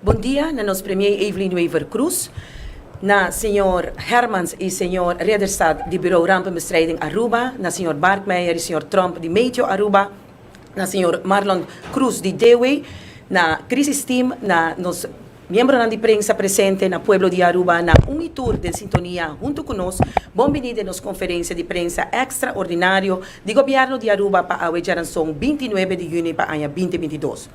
Bon dia na nos Premier Evelyn Wever Croes, na señor Hermans y señor Rederstad di Bureau Rampenbestrijding Aruba, na señor Barkmeijer y señor Tromp di Meteo Aruba, na señor Marlon Cruz di Dewey, na Crisis Team, na nos miembronan di prensa presente na pueblo di Aruba na un y tur den sintonia hunto cu nos, bon bini den nos conferencia di prensa extra ordinario di Gobierno di Aruba pa awe djaranson binti nuebe di juni pa aña binti binti dos.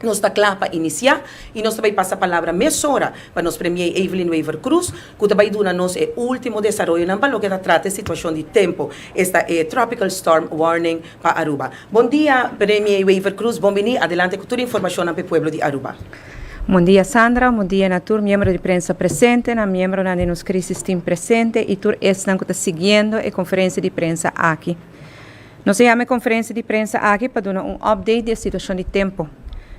Nos ta kla pa inisiá i nos ta bai pasa palabra mesora pa nos Premiei Evelyn Wever Croes ku ta bai duna nos e último desaroyonan pa loke ta trata e situashon di tempu, esta e Tropical Storm Warning pa Aruba. Bon dia Premiei Wever Croes, bon biní, adelante ku tur e informashonnan pa e pueblo di Aruba. Bon dia Sandra, bon dia na tur miembro di prensa presente, na miembronan di nos Crisis Team presente i tur esnan ku ta siguiendo e konferensia di prensa aki. Nos a yama e konferensia di prensa aki pa duna un update di e situashon di tempu.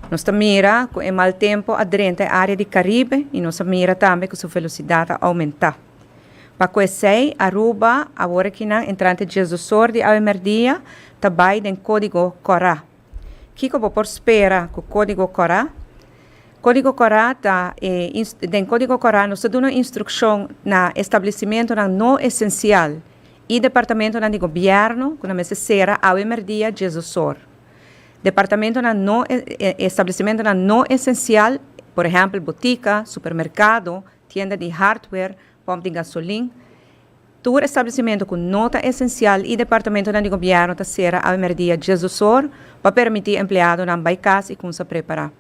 Nos ta mira ku e mal tempu a drenta e área di Karibe i nos a mira tambe ku su velosidat a oumentá. Pa ku esei, Aruba, awor aki nan entrante dies dos or di awe merdia, ta bai den kódigo kòrá. Kiko bo por spera ku kódigo kòrá? Kódigo kòrá ta e Den kódigo kòrá nos ta duna instrukshon na establesimentunan no esensial y departamentonan di gobierno cu nan mester cera awe merdia dies di osor. Departamentonan no establecimentonan no esencial, por ehempel botica, supermercado, tienda di hardware, pump di gasolin, tur establecimento cu no ta esencial y departamentonan di gobierno ta cera awe merdia dies di osor pa permiti empleadonan bay cas y cunsa prepara.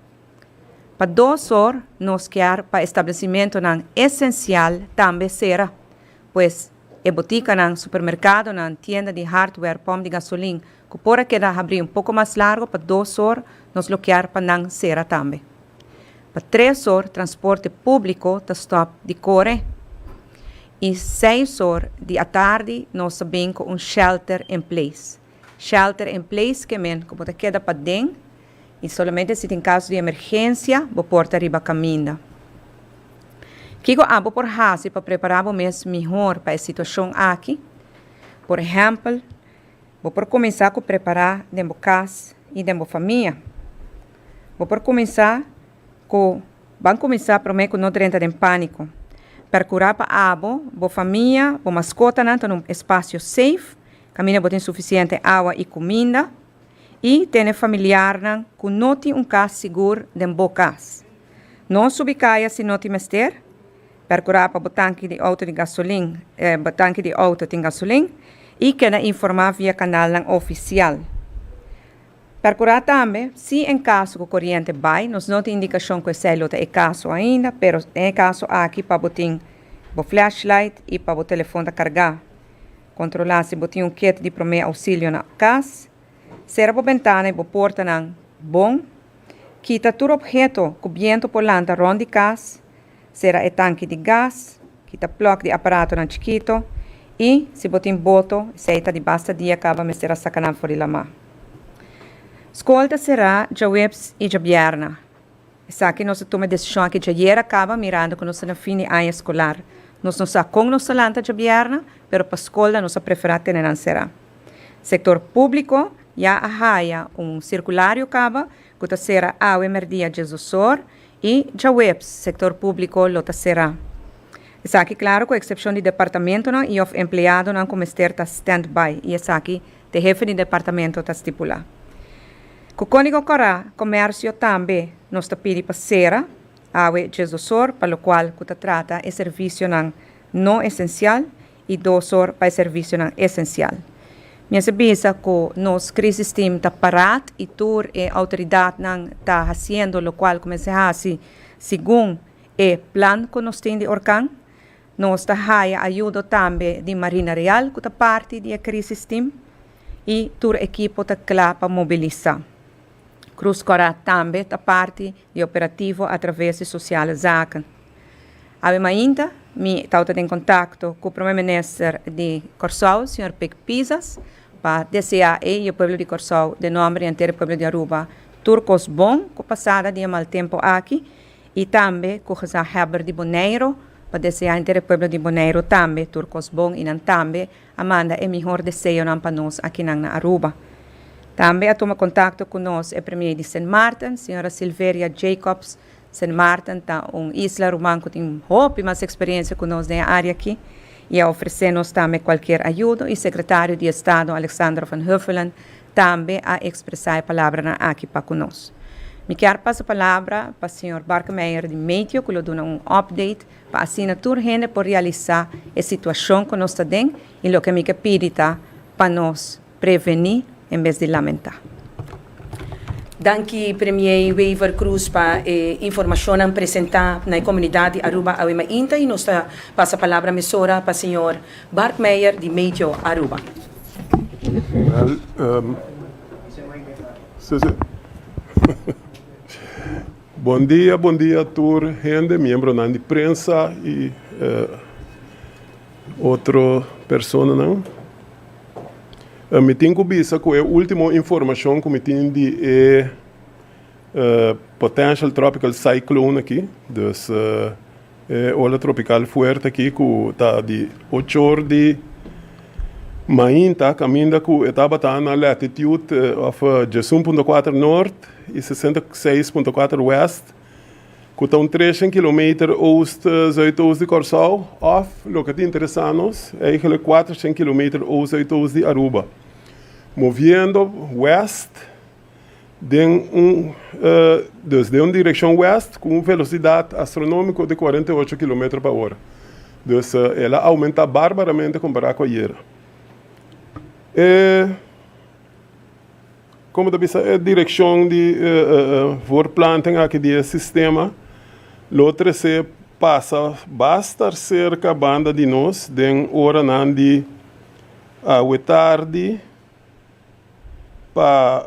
Pa dos or nos kier pa establecimentonan esencial tambe cera. Pues, e botikanan, supermerkadonan, tienda di hardware, pòmp di gasolin, ku por a keda habrí un poko mas largo pa dos or, nos lokear pa nan sera tambe. Pa tres or transporte públiko ta stòp di kore i seis or di atardi nos ta bin ku un shelter en place. Shelter in place ke men ku bo ta keda paden i solamente si tin kaso di emergensia bo por ta riba kaminda. Kiko abo por hasi pa prepara bo mes mihor pa e situashon aki? Por ehèmpel, bo por kuminsá ku prepará den bo kas i den bo famia. Bo por kuminsá ku Ban kuminsá promé ku no drenta den pániko. Perkurá pa abo, bo famia, bo maskotanan ta na un espasio seif Kaminda bo tin sufisiente awa i kuminda, i tene familiarnan ku no tin un kas sigur den bo kas. No subi kaya si no tin mester. Perkurá pa bo tanki di outo di gasolin, bo tanki di outo tin gasolin, i keda informá via kanalnan ofisial. Perkurá tambe, si en kaso ku koriente bai, nos no tin indikashon ku esei lo ta e kaso ainda, pero den e kaso aki pa bo tin bo flashlight i pa bo telefon ta kargá. Kontrolá si bo tin un kit di promé ousilio na kas. Sera bo bentana i bo portanan bon. Kita tur opheto ku bientu por lanta rònt di kas. Sera e tanki di gas. Kita plòk di aparatonan chikito. I, si bo tin boto, esei ta di basta dia kaba mester a saka nan for di lamá. Skol ta será djaweps i djabièrna. Esaki nos a tuma e desishon aki djayer a kaba mirando ku nos ta na fin di aña eskolar. Nos no sa kon nos ta lanta djabièrnè, pero pa skolnan nos a preferá tene nan será. Sektor públiko ya a haya un sirkulario kaba ku ta sera awe mèrdia djesdosor i djaweps sektor públiko lo ta será. Esaki klaru ku eksepshon di departamentonan i òf empleadonan ku mester ta standby i esaki Te hefe di departamento ta stipula ku kónigo kòrá komèrsio tambe nos ta pidi pa sera awe djes dos or pa lokual ku ta trata e servisionan no esensial i dos or pa e servisionan esensial. Mi a ser bisa ku nos krisis team ta parat i tur e outoridatnan ta hasiendo lokual ku mester hasi segun e plan ku nos tin di Orkan. Nos ta haya ayudo tambe di Marina Real cu ta parti di e crisis team y tur ekipo ta cla pa mobilisa. Cruz Cora tambe ta parti di e operativo a traves di Sociale Zaken. Awe mainta mi tawata den contacto cu Prome Minister di Corsow, Señor Pic Pizas, pa desea ey y e pueblo di Corsow den nomber y enter e pueblo di Aruba tur cos bon cu pasada di e mal tempo aki. Y tambe cu Gezag Hebber di Boneiro pa desea enter e pueblo di Boneiro tambe tur cos bon y nan tambe a manda e mihor deseonan pa nos akinan na Aruba. Tambe a tuma contacto cu nos e Premier di Sint Maarten, Sra. Silveria Jacobs. Sint Maarten ta un isla ruman cu tin hopi mas experiencia cu nos den e area aki y a ofrece nos tambe cualkier ayudo y Secretario di Estado Alexander Van Huffelen tambe a expresa e palabranan aki pa cu nos. Mi kier pasa palabra pa señor Barkemeyer di Meteo cu lo duna un update pa asina tur hende por realisa e situacion cu nos ta den y loke mi ke pidi ta pa nos preveni en bes di lamenta. Danki Premier Wever Croes pa e informacionnan presenta na e comunidad di Aruba Awe Mainta y nos ta pasa palabra mesora pa señor Bart Meijer di Meijoo, Aruba. Bon dia, bon dia tur hende, miembronan di prensa y otro personanan. Mi tin cu bisa cu e ultimo informacion cu mi tin di e potential tropical cyclone aki, dus, E ola tropical fuerte aki cu ta di ochor di mainta caminda cu e tabata na latitude of djesun punto kuater noord y sesenta y seis punto kuater west, cu ta un treshen kilometer oost zuidoost di Corsow, of loke ta interesa nos, eigenlijk kuatershen kilometer oost zuidoost di Aruba, moviendo west. den un dus den un direccion west cu un velocidad astronomico de cuarenta y ocho kilometer pa ora. Dus el a aumenta barbaramente compara cu ayer. E como ta bisa e direccion di voorplanting aki di e sistema lo trece pasa bastar cerca banda di nos den oranan di awe tardi, Pa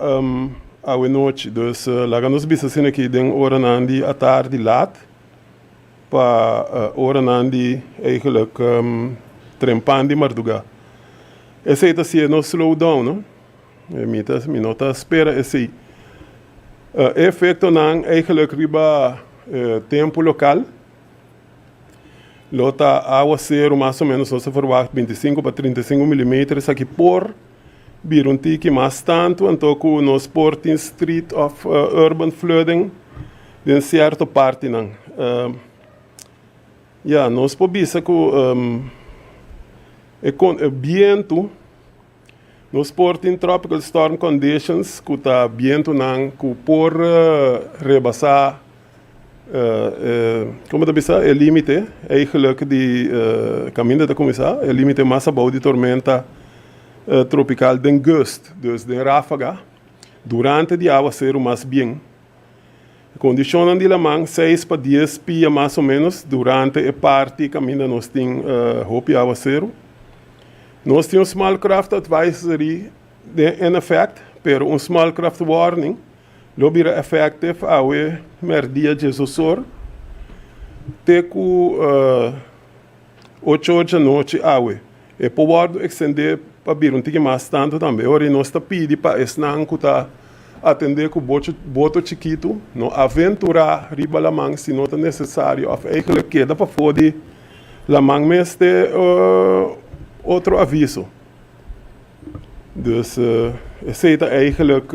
awe nochi, dus laga nos bisa esaki den oranan di atardi lat, pa oranan di eigenlijk trempan di mardugá. Esei ta siña nos slow down, no? Mi no ta spera esei. E efektonan eigenlijk riba tempu lokal. Lo ta awa seru mas o menos nos ta verwagt binti i sinku pa trinta i sinku milimeter esaki por bira un tiki mas tantu anto ku nos por tin street of urban flooding den sierto partinan ya nos por bisa ku e bientu. Nos por tin tropical storm conditions cu ta bientunan cu por rebasa como ta bisa e limite eigenlijk di caminda ta cuminsa e limite mas abao di tormenta tropical den gust, dus den rafaga, durante di aguacero mas bien. E kondishonnan di laman seis pa dies pia mas o ménos durante e parti kaminda nos tin hopi awaseru. Nos tin un small craft advisory den en efèkt, pero un small craft warning lo bira effective awe mèrdia djes osor te ku. Ocho or dje anochi awe. E pobordo ekstendé pa bira un tiki mas tantu tambe ora i nos ta pidi pa esnan ku ta atendé ku boto chikitu no aventurá riba laman si no ta nesesario òf eigelek keda pafó di laman mes te otro aviso. Dus esei ta eigelek.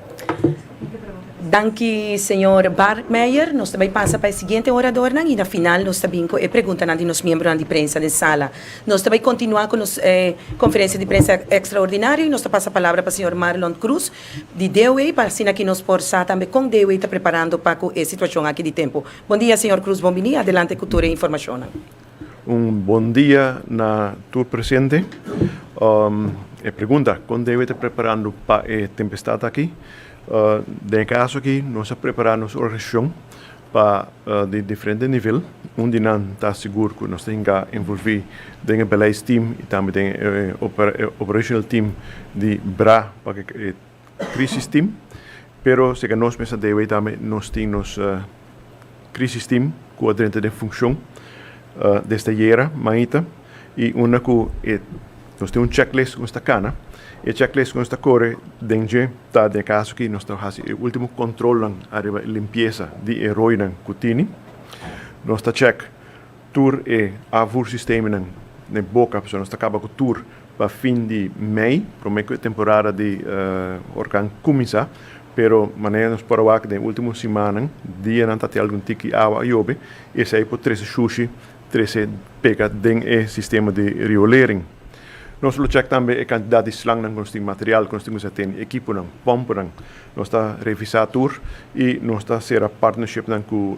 Danki señor Bart Meijer. Nos ta bay pasa pa e siguiente oradornan y na final nos ta bin cu e preguntanan di nos miembronan di prensa den sala. Nos ta bay continua cu nos conferencia di prensa extraordinario y nos ta pasa palabra pa señor Marlon Cruz di DOA pa asina aki nos por sa tambe con DOA ta preparando pa cu e situacion aki di tempo. Bon dia señor Cruz, bon bini. Adelante cu tur e informacionnan. Un bon dia na tur presente. E pregunta, Kon debe ta preparando pa e tempestad aki? Den e kaso aki nos a prepara nos organisacion pa di diferente nivel. Un di nan ta sigur cu nos ta hinca envolvi den e beleidsteam y tambe den e operational team di bra pa cu e. Crisis team, pero seca nos mester debe y tambe nos tin nos crisis team cu a drenta den funcion desde ayera mañita y unda cu e nos tin un checklist cu nos ta cana, e checklist cu nos ta core den dje ta den e caso aki nos ta haci e ultimo controlnan ariba e limpieza di e roinan cu tini, nos ta check. Tur e avursistemanan n'e boka, pasobra nos ta kaba ku tur pa fin di mei, promé ku e temporada di orkan kuminsá. Pero manera nos por a wak den último simannan, dianan ta tin algun tiki awa a yobe, esei por trese shushi, trese pega den e sistema di riolering. Nos lo chèk tambe e kantidat di slangnan ku nos tin, material ku nos tin kumsa tene, ekiponan, pòmpunan. Nos ta revisá tur i nos ta sera partnershipnan ku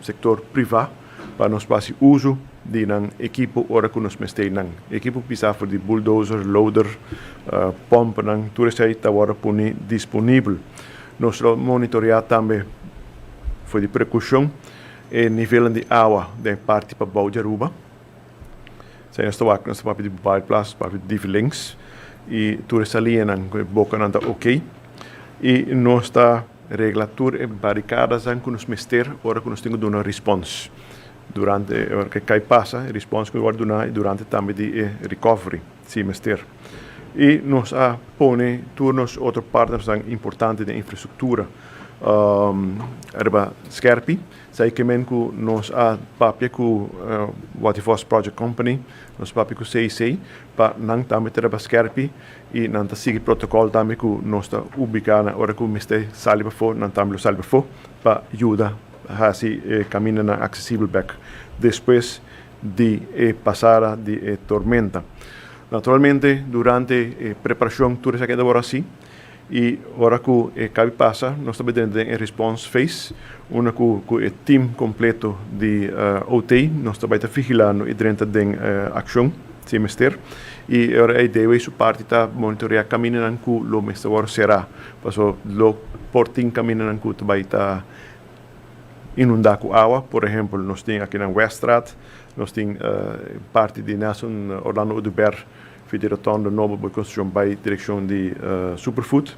sektor privá. Pa nos pasi uso di nan ekipo ora ku nos mester nan. Ekipo pisá for di bulldozer, loader, pompnan, tur esei ta wòrdu puni disponibel. Nos lo monitoreá tambe for di prekushon e nivelnan di awa den e parti pabou di Aruba. Esei nos ta wak, nos ta papia di Bouwplaats, papia di Divi Links i tur e salianan ku e bokanan ta oke i nos ta. Regla tur e barikadasan ku nos mester ora ku nos tin ku duna rispons durante ora ku e kai pasa, e rispons ku wòrdu duná durante tambe di e rikòvri si mester. I nos a pone tur nos otro partnernan importante den infrastruktura riba skèrpi. Sa e kimen ku nos a papia ku Waterfors Project Company, nos a papia ku CIC pa nan tambe ta riba skèrpi. I nan ta sigui protocol tambe cu nos ta ubica nan ora cu mester sali pafo nan tambe lo sali pafo pa yuda haci e caminanan accesibel bek despues di e pasada di e tormenta. Naturalmente durante e preparacion tur esaki a tabora asi y ora cu e cabi pasa nos ta bendrenta den e response phase unda cu cu e team completo di OT nos ta bay ta vigilando y drenta den accion. Si mester, y ora ey debe y su parti ta monitorea caminanan cu lo mester wor cera, paso lo por tin caminanan cu ta bay ta inunda cu awa, por ehempel, nos tin akinan Weststraat, nos tin parti di Nelson Orlando Oduber fi di Rotonde Noble Boy Construccion bay direccion di Superfood,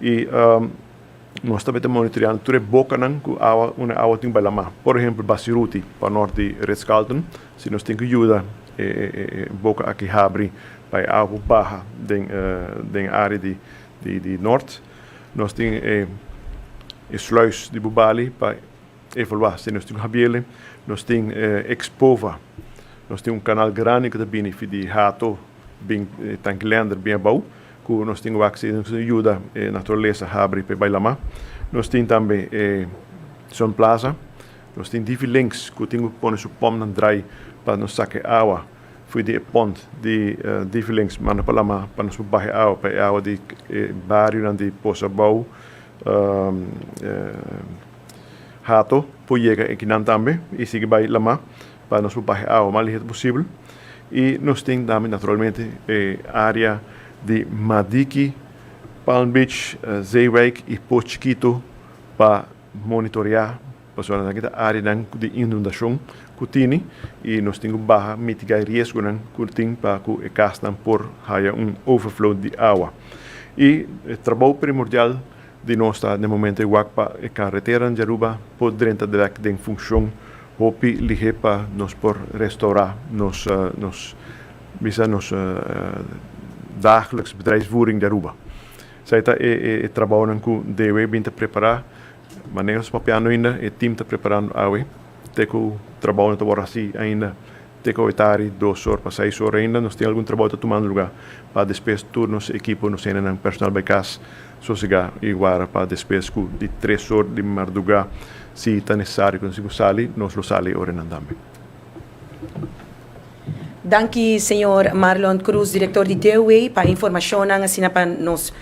y. Nos tambe ta monitoreando tur e bokanan ku awa unda awa tin bai lamá. Por ehempel Basiruti pa nort di Ritz-Carlton, si nos tin ku yuda e boka aki habri pa e awa por baha den den e área di di di nort. Nos tin e sluis di Bubali pa. Evaluá, si nos tin un habiele, nos tin Expova, nos tin un kanal grandi ku ta bini fi di Hato bin Tanki Lender bin abou ku nos tin wak si nos tin yuda e naturalesa habri pa e bai lamá. Nos tin tambe e Sun Plaza, nos tin Divi Links ku tin ku pone su pòmpnan drai pa nos saka e awa fi di e pònt di Divi Links manda pa lamá pa nos por baha e awa pa e awa di e barionan di Posa Abou. Hato por yega ekinan tambe y sigui bay lama pa nos por bahe awa mas lihet posibel. Y nos tin tambe naturalmente e area di Madiki, Palm Beach, Zeewijk y Poort Chikito pa monitorea pasobra nan kita areanan di inundacion cu tini y nos tin cu baha, mitiga e riesgonan cu tin pa cu e casnan por haya un overflow di awa. Y e trabao primordial. Di nos ta na e momento e wak pa e carreteranan di Aruba por drenta direct den funcion hopi lihe pa nos por restaura nos nos bisa nos dagelijks bedrijfsvoering di Aruba. Esai ta e e e trabahonan cu DW bin ta prepara, ma nen nos papia no ainda, e team ta preparando awe. Te ku trabou no ta wòrdu hasi ainda te ku e ta ari dos or pa seis or ainda. Nos tin algun trabou ta tumando lugá pa despes tur nos ekipo, nos hendenan, personal bai kas sosegá i wara pa despes ku di tres or di mardugá si ta nesesario ku nos tin ku sali, nos lo sali e oranan tambe. Danki señor Marlon Cruz director di Dewey pa informacionnan asina pa nos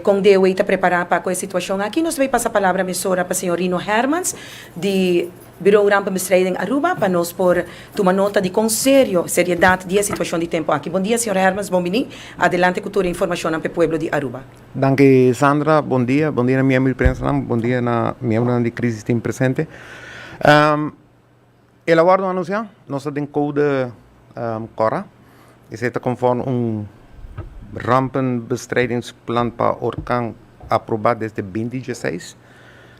con Dewey ta prepara pa cu e situacion aki. Nos ta bay pasa palabra mesora pa señor Rino Hermans di Bureau Rampenbestrijding Aruba pa nos por tuma nota di con serio seriedad di e situacion di tempo aki. Bon dia señor Hermans, bon bini. Adelante cu tur e informacionnan p'e pueblo di Aruba. Danki Sandra, bon dia, bon dia na miembro di prensanan, bon dia na miembronan di Crisis Team presente. El a wordo anunsiá. Nos ta den koude kòrá. Esei ta konforme un rampenbestrijdingsplan pa orkan aprobá desde binti dieseis.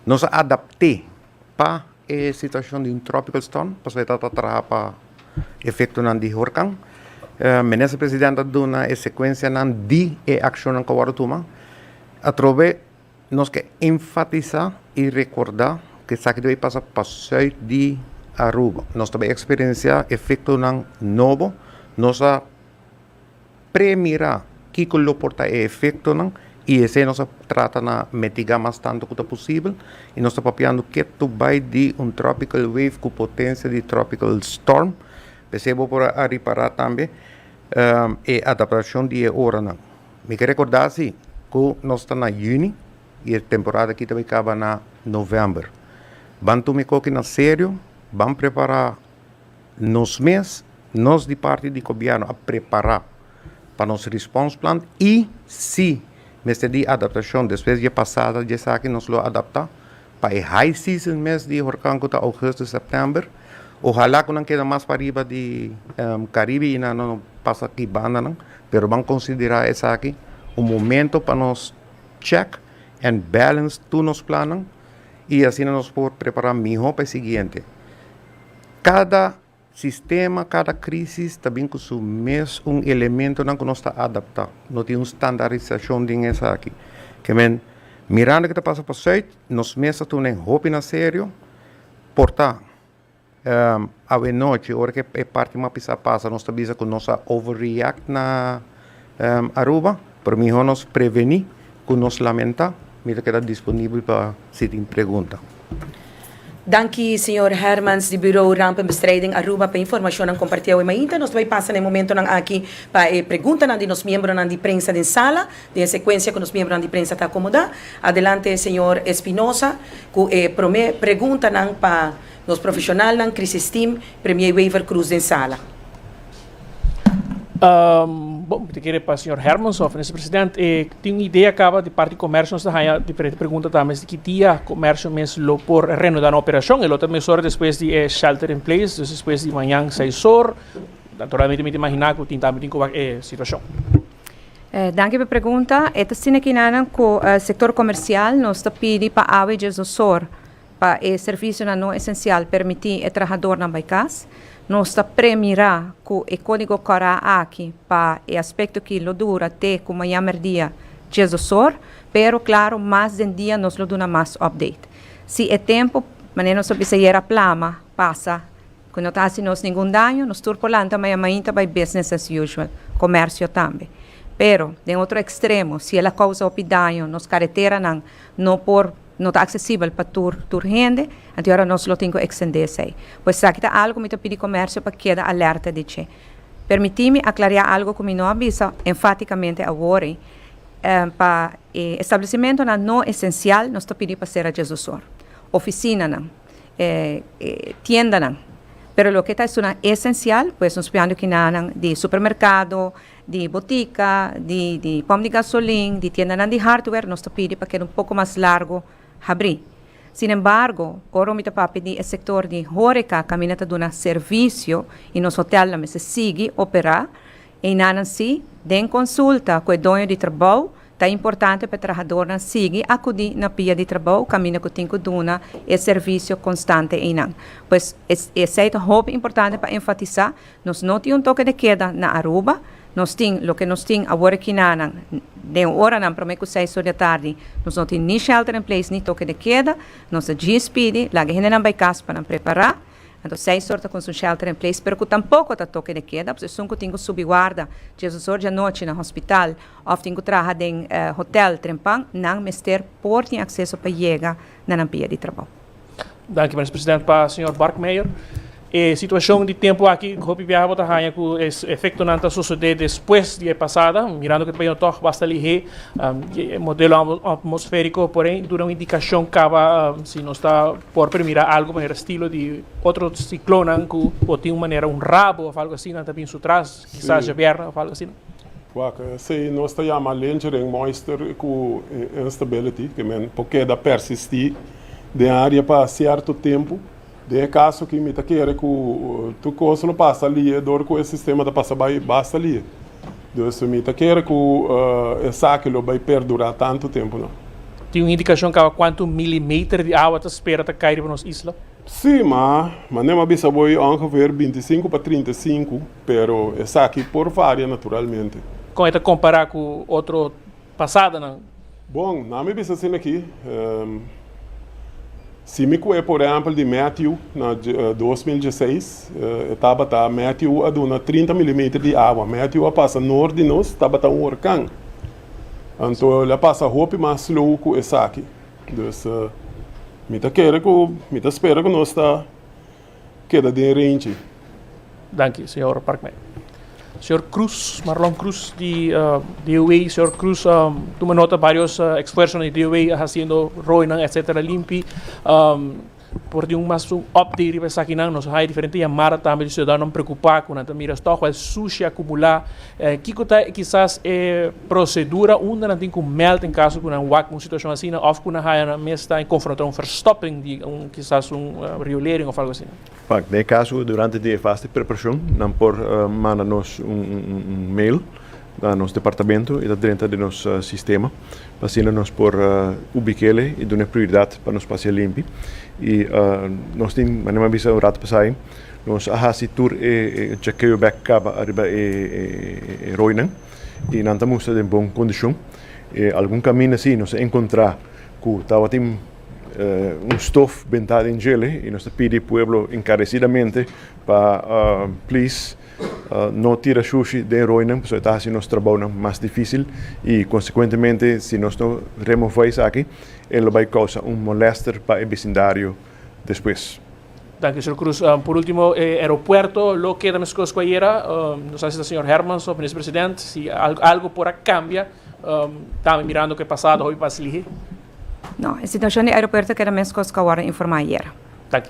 Nos a adapt'é pa e situashon di un tropical storm, pasobra e ta ta traha pa efektonan di orkan. Minister Presidente a duna e sekuensianan di e akshonnan ku a wordo tuma atrobe. Nos ke enfatisá i rekordá ku esaki ta bay pasa pa sùit di Aruba. Nos ta bay eksperensiá efektonan nobo. Nos a premirá kiko lo por ta e efektonan i esei nos a trata na mitigá mas tantu ku ta posibel. I nos ta papiando ke ta bay di un tropical wave ku potensia di tropical storm. P'esei bo por a ripará tambe e adaptashon di e oranan. Mi ta recorda si cu nos ta na juni y e temporada aki ta bay caba na november. Ban tuma e coki na serio, ban prepara nos mes, nos di parti di gobierno a prepara pa nos response plan y si mester di adaptacion despues dje pasada dje esaki nos lo adapta Pa e high season mes di hurkan ku ta Augusto, September, ohala ku nan keda mas pariba di Caribe i nan no pasa ki bandanan, pero ban konsiderá esaki un momento pa nos check and balance tur nos plannan i asina nos por prepará mihó pa e siguiente. Kada Sistema, Kada krisis ta bin ku su mes un elementonan ku nos ta adaptá. No tin un standarisashon den esaki. Ke men, mirando ke ta pasa pa Sùit, nos mes ta tuma den hopinan serio. Por ta, awenochi, ora ke e parti mas pisá pasa, nos ta bisa ku nos a overreact na. Aruba, pero mihó nos prevení ku nos lamentá. Mi ta keda disponibel pa si tin pregunta. Danki señor Hermans di Buro Rampenbestrijding Aruba pa e informashonnan kompartí awe. Mainta nos ta bai pasa na e momentonan aki pa e preguntanan di nos miembronan di prensa den sala, den e sekuensia ku nos miembronan di prensa ta akomodá. Adelante señor Espinosa ku e promé preguntanan pa nos profeshonalnan, Krisisteam, Premier Wever Cruz den sala. Um, bom, te kere pa señor Hermanson, minister president, eh, tin un idea acaba de parte comercio nos haya diferente pregunta también de que dia comercio mes lo por reanudar operación, el otro mes hora después de eh, shelter in place, dus después de mañana seis hora, naturalmente me imaginar que tin también tin eh, situación. Eh, dankie per pregunta. Eta sine kinanan ko eh, sector comercial nos ta pidi pa awe jesosor. Pa e servisionan no esencial permiti e trahadornan bai cas, nos ta premira cu e codigo cora aki pa e aspecto ki lo dura te cu maña merdia diesdos or, pero claro mas den dia nos lo duna mas update. Si e tempo, manera nos a bisa ayer a plama, pasa cu no ta haci nos ningun daño, nos tur por lanta maña main ta bai business as usual, comercio tambe. Pero, den otro extremo, si el a causa hopi daño, nos careteranan no por. No ta aksesibel pa tur tur hende, anto yora nos lo tin ku ekstendé esei. Bo esaki ta algu ku mi ta pidi komersio pa keda alerta di dje. Permití mi aklariá algu ku mi no a bisa enfátikamente awor ei, Pa e establesimentonan no esensial nos ta pidi pa sera dje zosor, ofisinanan, e tiendanan, pero loke ta estunan esensial, pues nos piando kinanan di supermerkado, di botica, di di pom di gasolin, di tiendanan di hardware nos ta pidi pa keda un poco mas largo habri. Sin embargo, ora mi ta papia di e sector di horeca caminda ta duna servicio y nos hotel nan mester sigui opera, einanan si, den consulta cu e doño di trabou, ta importante pa e trahadornan sigui acudi na pia di trabou caminda cu tin cu duna e servicio constante einan. Pues, esey ta hopi importante pa enfatisa. Nos no tin un toke de keda na Aruba. Nos tin loke nos tin awor e kinanan. Den e oranan prome ku seis or di atardi nos no tin ni shelter in place ni toke de keda. Nos a djis pidi laga e hendenan bai kas pa nan prepará. Anto seis or ta konsi un shelter in place pero ku tampoko ta toke de keda pues esun ku tin ku subi warda Jesus or di anochi na hospital òf tin ku traha den hotel trempan nan mester por tin akseso pa yega na nan pia di trabou. Danki Minis President pa Señor Barkmeyer. E situacion di tempo aki hopi biaha bo ta haña cu e efectonan ta sucede despues di e pasada, mirando cu e paisnan tog basta lihé, e modelo atmosferico por ahí duna un indicacion caba si nos ta por primira algo manera estilo di otro ciclonnan cu bo tin un manera un rabo of algo asina ta bin su tras. Kisas dje bierna of algo asina. Wak esei nos ta yama lintering, moister ku instability, ke men por keda persistí den área pa sierto tempu. Den e kaso aki mi ta kere ku tur kos lo pasa lie dor ku e sistema ta pasa bai basta lie. Dus mi ta kere ku esaki lo bai perdurá tantu tempu no. Tin un indikashon kaba kuantu milimeter di awa ta spera ta kai riba nos isla? Sí, ma manem a bisa bo e ongeveer binti i sinku pa trinta i sinku, pero esaki por varia naturalmente. Kon e ta kompará ku otro pasadonan? Bon, nan mi bisa asina aki, Si mi kue por ehèmpel di Matthew na dos mil dieseis, e tabata, Matthew a duna trinta milimeter di awa. Matthew a pasa noord di nos, tabata un horkan. Anto el a pasa hopi mas slow ku esaki. Dus mi ta kere ku mi ta spera ku nos ta keda den rentji. Danki, señor Parkman. Señor Cruz, Marlon Cruz di DOW. Señor Cruz a tuma nota varios eksfuersonan di DOW a hasiendo roinan etsetera limpi. Por tin un mas un update riba esaki nan, nos a haya diferente yamada tambe di ciudadanonan preocupa cu nan ta mira stof el sushi a cumula. Kico ta kisas e procedura unda nan tin cu meld en caso cu nan wak un situacion asina of cu nan haya nan mes ta confronta un verstopping di un kisas un riolering of algo asina? Pak, den e caso cu durante tin e fase di preparacion nan por manda nos un mail. Na nos departamento e ta drenta den nos sistema pa asina nos por ubik'e i dun'e prioridat pa nos pas'e limpi. I nos tin, manera mi a bisa un ratu pasai, nos a hasi tur e chekeo bek kaba ariba e roinan i nan ta mustra den bon kondishon. E algun kaminda si nos a enkontrá ku tabatin un stof bentá den djel'e i nos ta pidi pueblo enkaresidamente pa please, No tira shushi den roinan pasobra e ta hasi nos trabounan mas difísil i konsekuentemente si nos no remová esaki e lo bai kousa un molèster pa e besindario despues. Danki señor Cruz. Por ultimo e aeropuerto lo keda meskos ku ayera? No sa si ta señor Hermans of Minister President si algo por a kambia tambe mirando ku e pasado hopi pas lihé. No, e situashon di aeropuerto keda meskos ku awor a informá ayera. Danki.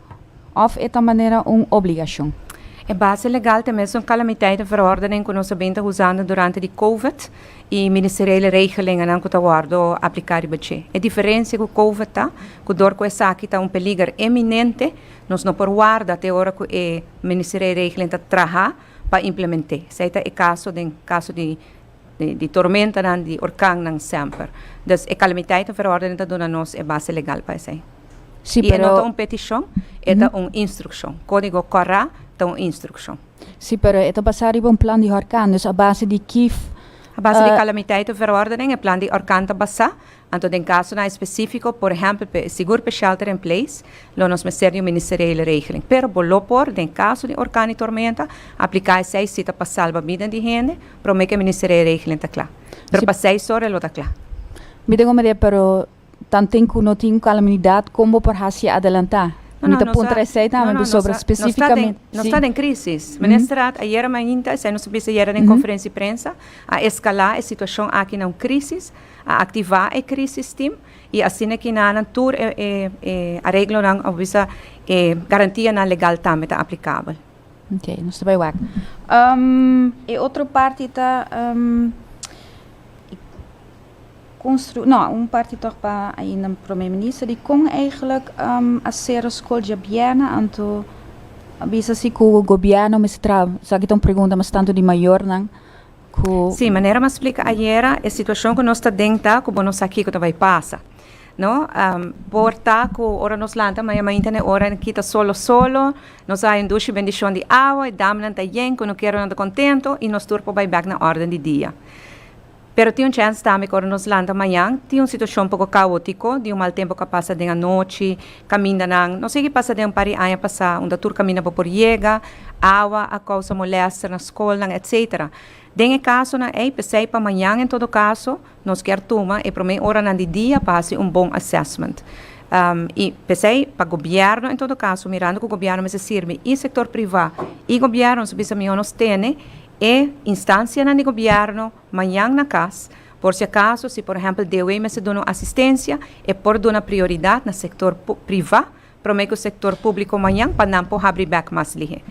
òf e ta manera un obligashon. E base legal ta mes un kalamiteit en verordening ku nos a bini ta usando durante di covid i ministeriele regelingennan ku ta wòrdu apliká riba dje. E diferensia ku covid ta ku dor ku esaki ta un peliger eminente nos no por warda te ora ku e ministeriele regeling ta traha pa implement'é. Esei ta e kaso den kaso di. di tormentanan, di orkannan semper. Dus e calamiteiten verordening ta duna nos e base legal pa esei. Sí, pero. I e no ta un peticion, e ta un instruccion. Codigo CORRA ta un instruccion. Sí, pero e ta basa riba un plan di horkan, dus a base di ki. A base di calamiteiten verordening e plan di horkan ta basa, Anto den kasonan espesífiko, por ehèmpel p'e sigur p'e shelter-in-place, lo nos mester di un ministeriële regeling. Pero bo lo por, den kaso di orkan i tormenta, apliká esei si ta pa salba biden di hende, promé ku e ministeriële regeling ta kla. Pero pa seis ora lo ta kla. Mi ta komprendié, pero tanten ku no tin un kalaminidat, kon bo por hasié adelantá? Mi ta puntra esei tambe p'e sobra spesífikamente. Nos ta den krísis. Minister Raad ayera mainta, esei nos a bisa ayera den konferensia di prensa, a eskalá e situashon aki na un krísis. A activa e crisis team y asina kinanan tur e areglonan a wisa e garantianan legal tambe ta aplicabel. Ok, nos ta bay wak. E otro parti ta construe, no, un parti toch pa ainda Prome Minister di con eigenlijk a cero scol djabiena anto a bisa si cu Gobierno mester traba, esaki ta un pregunta mas tanto di mayornan. ku. Sí, manera m'a splika ayera, e situashon ku nos ta den ta ku bo no sa kiko ta bai pasa. No, por ta ku ora nos lanta maña mainta n'e ora e kita solo solo, nos haña un dushi bendishon di awa, e damnan ta yen, ku nunkiera nan ta kontentu i nos tur por bai bèk na órden di dia. Pero tin un chèns tambe ku ora nos lanta mañan tin un situashon poko kaótiko di un mal tempu ku a pasa den anochi, Kamindanan. Nos sigui pasa den un par di aña pasá unda tur kaminda bo por yega. Awa a kousa molèster na skolnan etsetera. Den e kasonan ei, p'esei pa mañan en todo kaso, nos kier tuma e promé oranan di dia pa hasi un bon assessment. I p'esei pa gobièrnu en todo kaso, mirando ku gobièrnu mester sirbi i sektor privá i gobièrnu, nos a bisa mihó nos tene e instansianan di gobièrnu, Mañan na cas, por si acaso, si por ehempel DW mester duna un asistencia, e por duna prioridad na sector priva prome cu sector publico mañan pa nan por habri bek mas lihe.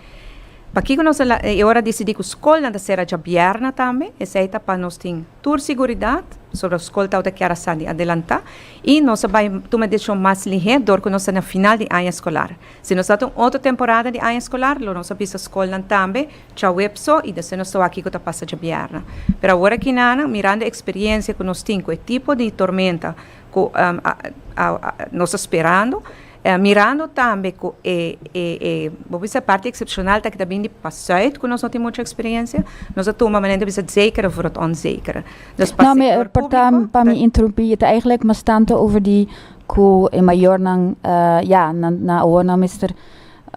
Pakico nos a e ora dicidi cu scolnan ta cera djabièrna tambe? Esey ta pa nos tin tur siguridad, pasobra scol tawata a kier a sali adelanta y nos a bay tuma e decision mas lihe dor cu nos ta na final di aña scolar. Si nos ta ta un otro temporada di aña scolar lo nos a bisa scolnan tambe Chawep so y despues nos ta wak kico ta pasa djabièrna. Pero awor aki Nana, mirando e experiencia cu nos tin cu e tipo di tormenta cu nos ta sperando, mirando tambe cu e e bo bisa e parti excepcional ta aki ta bini pa Zuid cu nos no tin mucha experiencia, nos a tuma manera nan ta bisa het zekere of het onzekere. Dus pa sector publico ta. No, perdon pa mi interrumpi. E ta eigenlijk mas tanto over di cu e mayornan, ja, nan awor nan mester.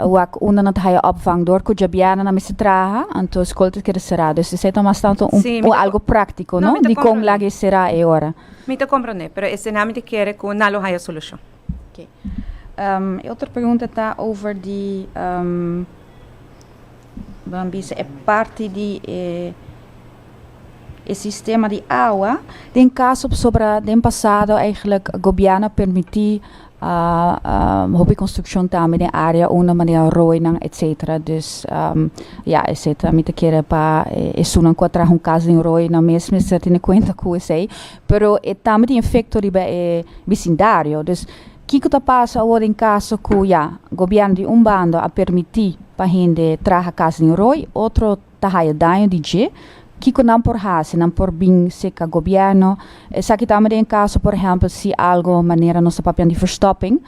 Wak unda nan ta haya opvang dor ku djabianan a mester traha, anto skol ta keda será. Dus esei ta mas tantu un un algu práktiko, no? Di kon lag'e e será e ora. Mi ta komprondé, pero esei nan mi ta kere ku nan lo haya solushon. Oké. E otro pregunta ta over di Ban bisa e parti di e e sistema di awa. Den kaso pasobra den pasado, eigelijk, gobièrnu a permití A hopi construccion tambe den area unda manera rooinan etc. Dus ya esey ta mi ta kere pa esunnan cu a traha un cas den rooi nan mes mester tene cuenta cu esey. Pero e tambe tin efecto riba e bisindario. Dus kico ta pasa awor den caso cu ya gobierno di un banda a permiti pa hende traha cas den rooi otro ta haya daño di dje, kiko nan por hasi? Nan por bin seka gobièrnu? Esaki ta mester den kaso por ehèmpel si algu manera nos ta papian di verstopping,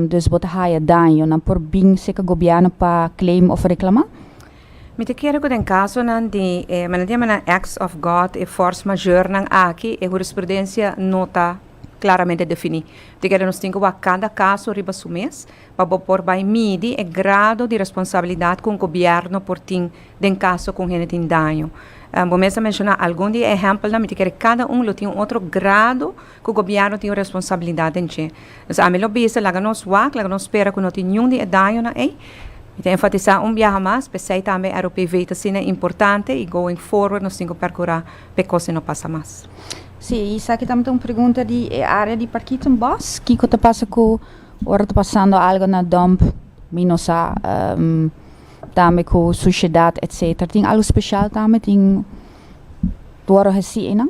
dus bo ta haya daño, nan por bin seka gobièrnu pa claim òf reklamá? Mi ta kere ku den kasonan di e men nan di aman nan acts of God, e fors mayornan aki, e hurisprudensia no ta klaramente definí. Mi ta kere nos tin ku wak kada kaso riba su mes, pa bo por bai midi e grado di responsabilidat ku un gobièrnu por tin den kaso ku un hende tin daño. Bo mes a menshoná algun di e ehèmpelnan, mi ta kere kada un lo tin un otro grado ku gobièrnu tin un responsabilidat den dje. Entonces ami lo bisa laga nos wak, laga nos spera ku no tin niun di e dañonan ei. Mi ta enfatisá un biaha mas, p'esei tambe e ROPV ta asina importante i going forward nos tin ku perkurá pa e kosnan no pasa mas. Sí, i esaki tambe ta un pregunta di e área di Parkieton Bos, kiko ta pasa ku Ora ta pasando algo na dòmp mi no sa tambe ku sushidat etsetera tin algo speshal tambe tin ku wòrdu hasi einan?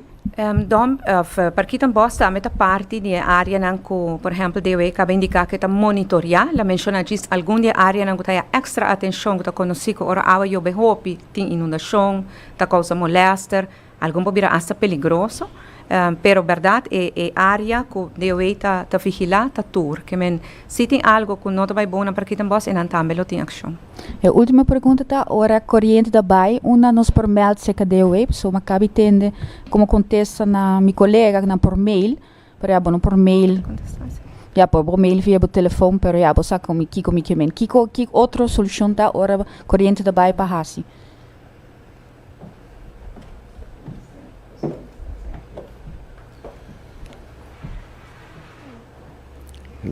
Dòmp òf parkit en bòs tambe ta parti di e áreanan ku por ehèmpel DW kaba indiká ku e ta monitoriá. Lo menshoná djis algun di e áreanan ku ta haña èkstra atenshon ku ta konosí ku ora awa yob'e hopi tin inundashon, ta kousa molèster, Algun por bira asta peligroso, pero berdad e e área ku DOH ta ta vigilá ta tur. Ke men si tin algu ku no ta bai bon nan por kita bos, enan tambe lo tin akshon. E ultima pregunta ta, ora koriente ta bai, unda nos por mèld serka DOH? Pasobra mi a kabi tende komo kontesta na mi koleganan por mail, pero ya bo no por mail, ya por bo mail via bo telefòn, pero ya bo sa komo kiko mi ke men. Kiko ki otro solushon ta ora koriente ta bai pa hasi?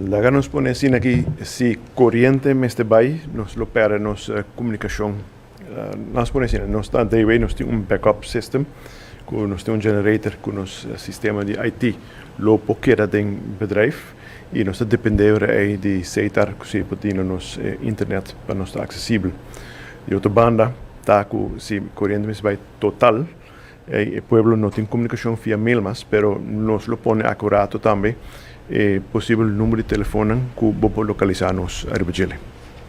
Laga nos pone asina aki, si coriente mester bay, nos lo perde nos comunicacion. Mas pone asina, nos ta dayways, nos tin un backup system, cu nos tin un generator cu nos sistema di IT lo por keda den bedrijf. y nos ta depende ora ey di seitar cu si por tine nos internet pa nos ta accesibel. Di otro banda ta cu si coriente mes bay total ey e pueblo no tin comunicacion via mail mas, pero nos lo pone acurato tambe e posibel number di telefonnan cu bo por localisa nos ariba djele.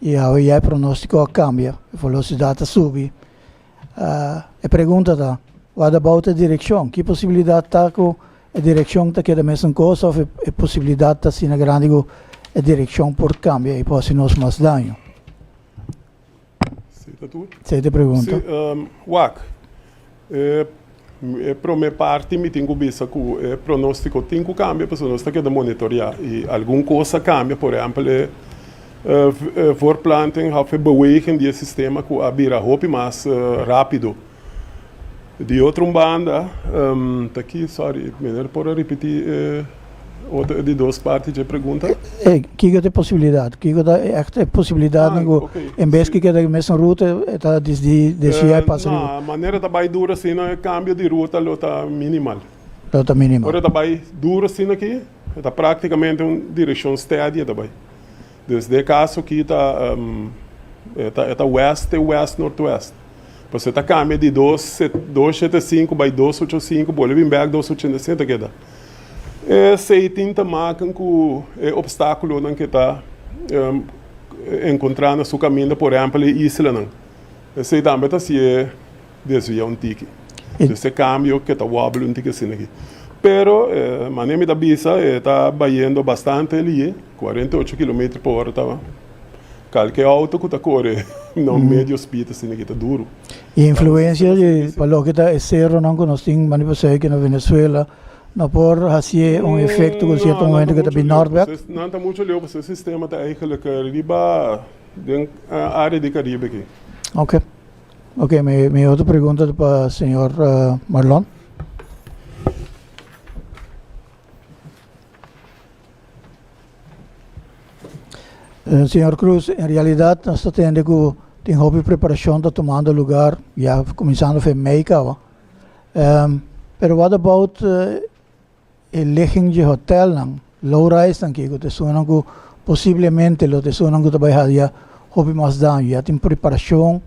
I awe ya e pronóstiko a kambia, e velosidat a subi. E pregunta ta, Wak ta bou ta e direkshon? Ki posibilidat ta ku e direkshon ta keda mesun kos òf e posibilidat ta asina grandi ku e direkshon por kambia i por hasi nos mas daño? Esei ta e pregunta. Wak, E prome parti mi tin cu bisa cu e pronostico tin cu cambia pasobra nos ta keda monitorea y algun cos a cambia, por ehempel e voorplanting of e beweging di e sistema cu a bira hopi mas rapido. Di otro un banda, ta aki, sorry, mi no por a ripiti e. Otro di dos parti dje pregunta? E kiko ta e posibilidad? Kiko ta e èkte e posibilidadnan ku en bes ku e keda e mesun ruta e ta disdí deshié e pasa riba? Na manera ta bai duru asina e kambio di ruta lo ta minimal. Lo ta minimal. Ora ta bai duru asina aki e ta praktikamente un direkshon stèdi e ta bai. Desde e caso aki ta e ta west te west northwest pasobra e ta cambia di dos sete cinco bay dos ocho cinco bolbe bin back dos ochenta y siete ta keda e asey tin ta maken cu e obstaculonan ke ta encontra na su caminda por ehempel e islanan esey tambe ta haci e desvia un tiki. So es e kambio ke ta wòbele un tiki asina aki. Pero manera mi ta bisa e ta bayendo bastante aliye, cuarenta y ocho kilometer pa ora ta kalke outo ku ta kore na un medio speed asina aki ta duru. I influensia di pa loke ta e seronan ku nos tin mane pa sèi ke na Venezuela no por hasié un efekto ku sierto momento ke ta bin nòrtwèst? No, nan ta mucho leu pasobra e sistema ta eigenlijk riba den área di Karibe aki. Oke. Oke, mi mi otro pregunta ta pa señor Marlon. Señor Cruz, en realidad nos ta tende cu tin hopi preparacion ta tumando lugar ya cuminsando fe mei caba. Pero what about E ligging dje hotelnan, low-risenan kiko ta esunnan ku posiblemente lo ta esunnan ku ta bai hadia hopi mas daño. Ya tin preparashon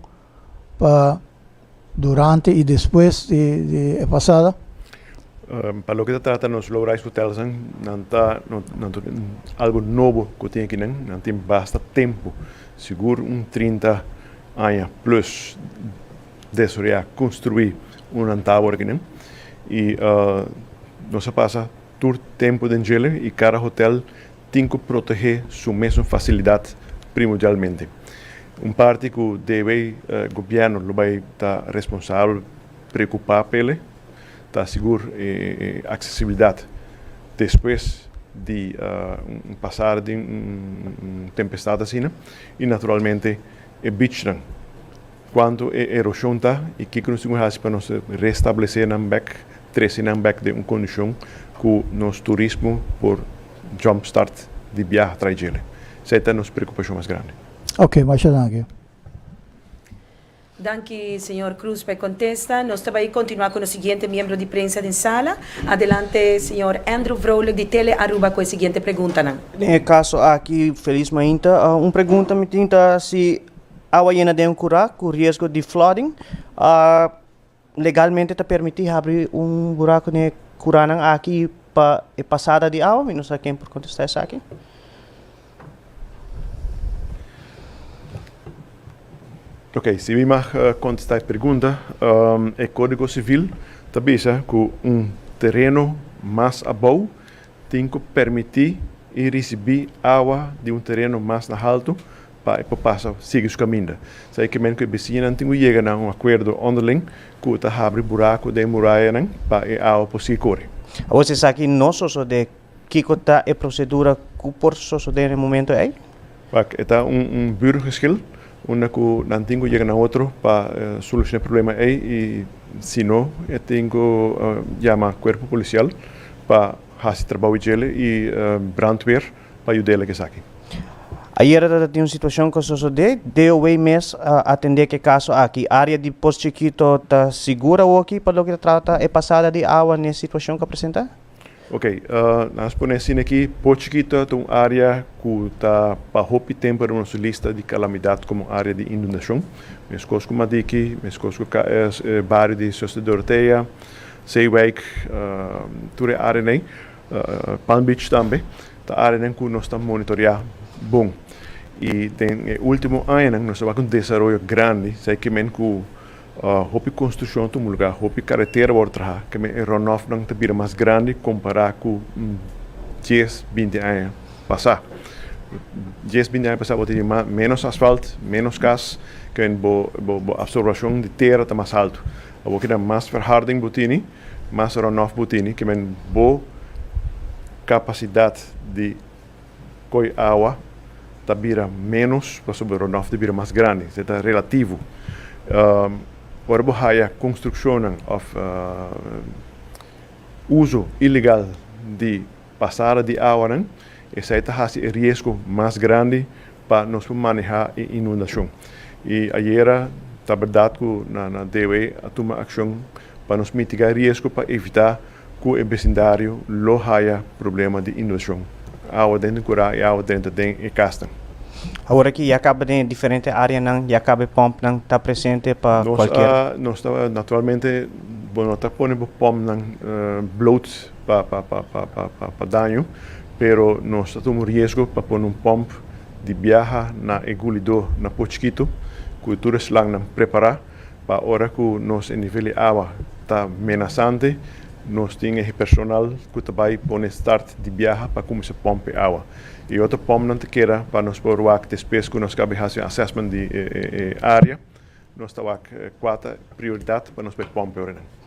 pa durante i despues di e pasada? Pa loke ta trata nos low-rise hotelsnan, nan ta nan ta tin algu nobo ku tin akinan. Nan tin basta tempu, sigur un trinta aña plus. Desoreá, konstruí un rantawer aki nen. I nos a pasa tur tempu den djele i kada hotèl tin ku protegé su mesun fasilidat primordialmente. Un parti ku DB gobièrnu lo bai ta responsabel preokupá pa el ta sigur e aksesibilidat despues di un pasada di un tempestat asina i naturalmente e bichnan. Cuantu e erosion ta y kico nos tin cu haci pa nos restablece nan bek, trece nan bek den un condicion cu nos turismo por jumpstart di biaha trae djele. Esey ta nos preocupacion mas grandi. Ok, masha danki. Danki señor Cruz pa e contesta. Nos ta bay continua cu nos siguiente miembro di prensa den sala. Adelante señor Andrew Vrolijk di Tele Aruba cu e siguiente preguntanan. Den e caso aki Feliz Mainta, un pregunta mi tin ta si. Awa yena den un kurá ku riesgo di flooding. Legalmente ta permití habri un burá ku ne kuranan aki pa e pasada di awa? Mi no sa ken por kontestá esaki. Oke, si mi mag kontestá e pregunta, e Kódigo Sivil ta bisa ku un tereno mas abou Tin cu permiti y ricibi awa di un tereno mas na haltu pa e por pasa sigui su caminda. Sa e ke men cu e besiñanan tin cu yega na un acuerdo onderling cu ta habri buracu den e murayanan pa e awa por sigui cori. Awor si esaki no sosode, kico ta e procedura cu por sosode na e momento ey? Pak e ta un un burgerschil unda ku nan tin ku yega na otro pa solushoná e problema ei i si no e tin ku yama kuerpo polisial pa hasi trabou djele i brandweer pa yud'é lek esaki. Ayera ta tin un situashon ku a sosodé, DOW mes a atendé ku e kaso aki. Área di Pos Chikito ta sigura awoki pa loke ta trata e pasada di awa n'e situashon ku a presentá? Ok, nan a spone asina aki, Poho Chikito ta un área ku ta pa hopi tempu riba nos lista di kalamidat komo área di inundashon. Meskos ku Madiki, meskos ku KS, bario di Suster Dorotea, Zeewijk, tur e áreanan, Palm Beach tambe, ta áreanan ku nos ta monitoreá bon. I den e último añanan nos tabata ku un desaroyo grandi, seike men ku Hopi construccion ta un lugar, hopi caretera wor traha, keme e runoffnan ta bira mas grandi compara cu dies, binti aña pasa. Dies, binti aña pasa bo tin menos asfalt, menos cas, keme bo bo absorbacion di tera ta mas alto. Awor keda mas verharding bo tini, mas runoff bo tini, keme bo capacidad di Koi awa ta bira ménos pasobra runoff ta bira mas grandi. Se ta relativo. Ora bo haya construccionnan of uso ilegal di pasada di awanan, esei ta haci e riesgo mas grandi pa nos por maneha e inundacion. Y ayera ta berdad cu nan a debe a tuma accion pa nos mitiga e riesgo pa evita Ku e besindario lo haya problema di inundacion awa den den kura y awa drenta den e kasnan. Awor aki ya kaba den e diferente areanan, ya kaba e pompnan ta presente pa kualkier. Nos ta naturalmente bo no ta pone bo pompnan bloot pa daño, pero nos ta tuma un riesgo pa pone un pomp di biaha na e gulido na Pochkito ku tur e slangnan prepara. pa ora ku nos e nivel di awa ta menasante nos tin e personal ku ta bai pone start di biaha pa kuminsá pòmp e awa. E otro pòmpnan ta keda pa nos por wak despues ku nos kaba di hasi un assessment di e área, nos ta wak kuater prioridat pa nos bai pòmp e oranan.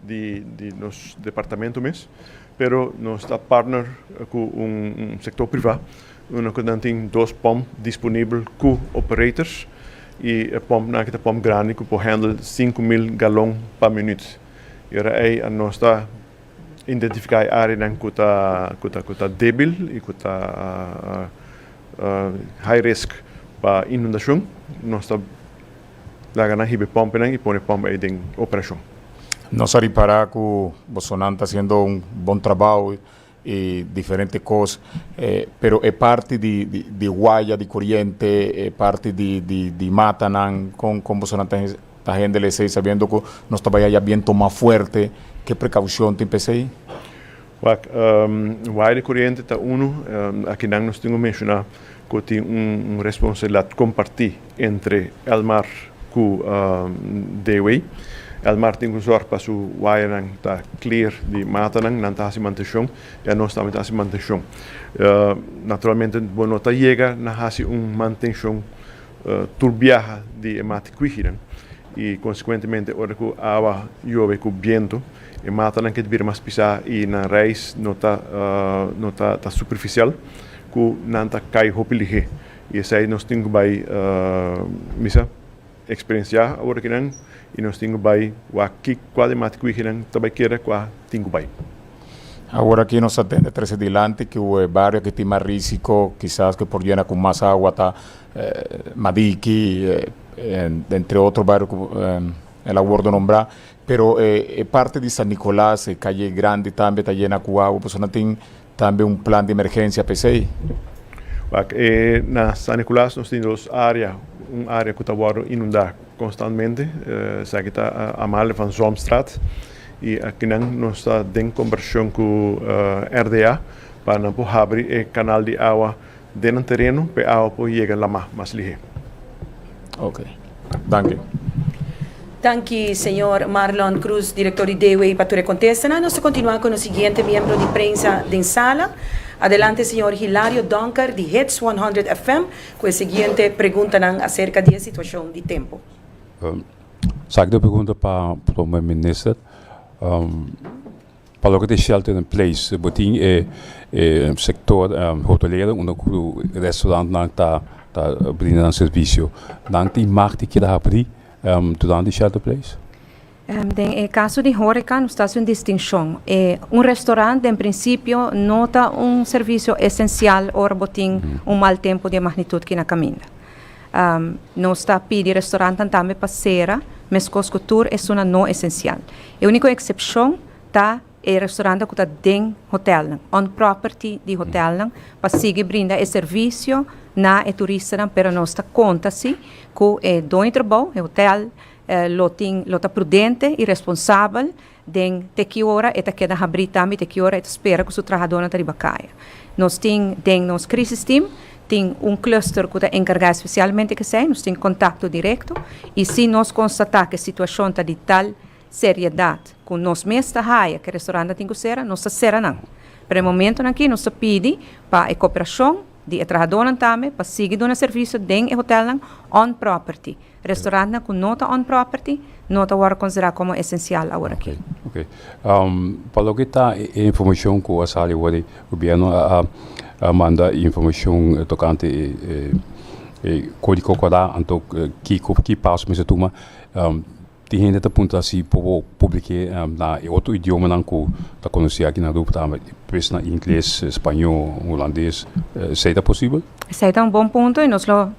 di di nos departamento mes pero nos ta partner cu un un sector priva unda cu nan tin dos pump disponibel cu operators y e pump nan aki ta pump grandi cu por handle sinku mil galon pa minuut y ora ey a nos ta identifica e areanan cu ta cu ta cu ta debil y cu ta high risk pa inundacion nos ta. Laga nan hibe pòmpenan i pone pòmp ei den operashon. Nos a ripará ku bosonan ta hasiendo un bon trabou i diferente kos, pero e parti di waya di koriente, e parti di matanan, kon kon bosonan ta hendel esei sabiendo ku nos ta bai aya bientu mas fuerte? Ke prekaushon tin p'esei? Wak, Wai di Coriente ta unu akinan nos tin ku menshoná ku tin un responsabilidat kompartí entre Elmar ku Dewey. Elmar tin ku zòrg pa su wainan ta clear di matanan. Nan ta hasi mantenshon i anos tambe ta hasi mantenshon. Naturalmente bo no ta yega na hasi un mantenshon tur biaha di e mati kuijinan i konsekuentemente ora ku awa yobe ku bientu. E matanan ke ta bira mas pisá i nan reis no ta no ta ta superfisial ku nan ta kai hopi lihé. I esei nos tin ku bai misa eksperensiá ora ki nan i nos tin ku bai wak ki kua di mata kuigi nan ta bai keda kua tin ku bai. Ora ki nos ta tende trese dilanti ku e bario ki tin mas risiko kisas ku por yena ku mas awa ta Madiki entre otro bario ku el a wordo nombrá. Pero e parti di San Nicolas, e Calle Grandi tambe ta yena cu agua. Pasobra nan tin tambe un plan di emergencia pa esey. Wak, Na San Nicolas nos tin dos area, un area cu ta wordo inunda constantemente, esaki ta Amalia van Zwamstraat, y akinan nos ta den conversacion cu RDA pa nan por habri e canal di agua. Den nan tereno p'e awa por yega lamá mas lihé. Ok. Danki. Danki señor Marlon Cruz, director di DEWE pa tur e contestanan. Nos ta continua cu nos siguiente miembro di prensa den sala. Adelante señor Hilario Donker di Hits 100 FM cu e siguiente preguntanan acerca di e situacion di tempo. Sa aki ta e pregunta pa Prome Minister. Pa loke ta e shelter in place bo tin e sector hotelero unda cu restaurant nan ta brinda nan servicio nan tin mag di keda habri durante e shelter place? Den e caso di horeca nos ta haci un distincion. Un restaurant den principio no ta un servicio esencial ora bo tin un mal tempo di e magnitud ki na caminda. Nos ta pidi restaurantan tambe pa cera mescos cu tur esuna no esencial. E úniko eksepshon ta e restaurantenan ku ta den hotelnan, on property di hotelnan, pa sigui brinda e servisio na e turistanan, pero nos ta konta si ku e doño trabou, e hotel, lo tin lo ta prudente i responsabel den te ki ora e ta keda habrí tambe i te ki ora e ta spera ku su trahadónan ta riba kaya. Nos tin den nos krisis team Tin un cluster ku ta enkargá spesialmente kesei, nos tin kontakto direkto i si nos konstatá ku e situashon ta di tal seriedat ku nos mes ta haya ku e restorantnan tin ku sera, nos ta sera nan. Pero e momentonan aki nos ta pidi pa e koperashon di e trahadónan tambe pa sigui duna servisio den e hotèlnan on property. Restaurantnan ku no ta on property no ta wòrdu konsiderá komo esensial awor aki. Ok. Pa loke ta e informashon ku a sali awor ei, gobièrnu a manda informashon tokante e kòdigo kokorá, anto kiko, ki paso mester tuma. Tin hende ta puntra si por bo publiké na e otro idiomanan ku ta konosé aki na Rupa, ta pues na ingles, spañó, hulandes. Esei ta posibel? Esei ta un bon punto i nos lo.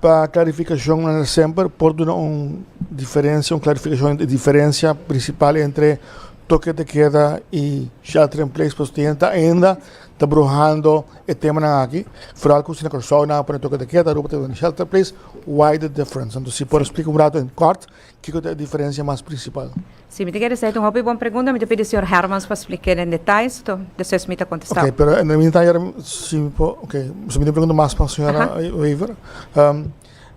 Pa klarifikashon nan ta semper por duna un diferensia, un klarifikashon di diferensia prinsipal entre Toke te Keda i Shelter in Place pasobra tien ta ainda ta bruhando e temanan aki, foral ku si na Kòrsou nan a pone Toke te Keda, Aruba ta pone Shelter in Place, why the difference? Anto si por esplika un ratu en kòrt Kiko ta e diferensia mas prinsipal? Si, mi tin ke resei ta un hopi bon pregunta. Mi ta pidi señor Hermans pa spliká el den detais, to despues mi ta kontestá. Oké, pero e mintá yera si mi por, oké, si mi tin pregunta mas pa señora Wever.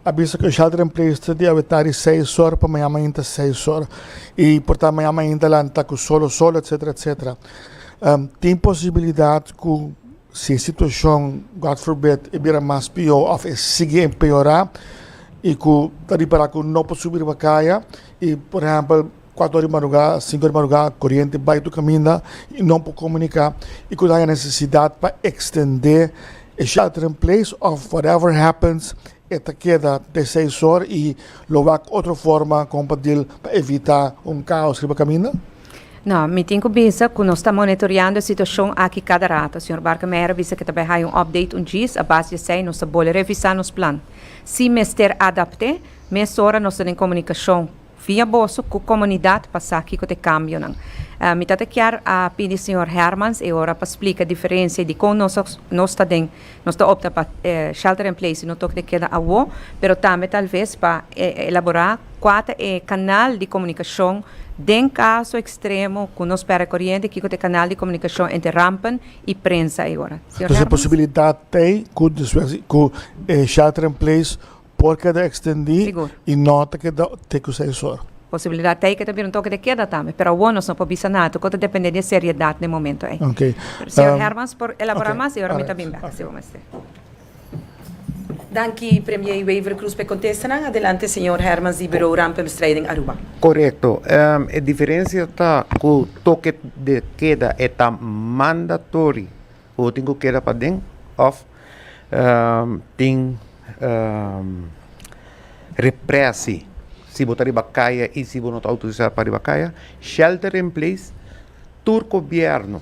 A bisa ku e shelter in place ta di awetá di seis or pa mañana mainta seis or i por ta mañana mainta lanta ku solo solo etsetera etsetera. Tin posibilidat ku Si e situacion, God forbid, e bira mas pio of e sigui empeora y cu ta ripara cu no por subi riba caya y por ehempel cuatro ora di madruga, cinco ora di madruga coriente bay tu caminda y no por comunica y cu ta haya necesidad pa extende e sheltering place of whatever happens E ta keda pe seis or y lo wak otro forma con pa dil pa evita un caos riba caminda? No, mi tin cu bisa cu nos ta monitoreando e situacion aki cada rato. Señor Barkemeyer a bisa que ta bay haya un update un djis, a base di esey nos ta bole revisa nos plan. Si mester adapte, mesora nos ta den comunicacion. Fia boso cu comunidad pa sa kico ta e cambionan. Mi ta ta kier a pidi señor Hermans e ora pa splica diferencia di con nos nos ta den nos ta opta pa shelter in place y no toki ta keda awo, pero tambe tal vez pa elabora cua ta e canal di comunicacion den caso extremo cu nos perde coriente kico ta e canal di comunicacion entre rampen y prensa e ora. Señor Hermans. Entonces e posibilidad ta cu despues cu e shelter in place Por keda ekstendí i no ta keda te ku seis or. Posibilidat t'ei ku e ta bira un toke de keda tambe, pero awor nos no por bisa nada tokot ta dependé di e seriedat n'e momento ei. Señor Hermans por elaborá mas i ora mi ta bin bèk sibo mester. Danki Premier Wever Croes p'e kontesta nan. Adelante señor Hermans di Bureau Ramp en Bestrijding den Aruba. Korekto. E diferensia ta ku toke de keda e ta mandatory O tin ku keda paden òf tin reprèsi si bo ta riba kaya i si bo no ta outorisá pa riba kaya. Shelter in place, tur gobièrnu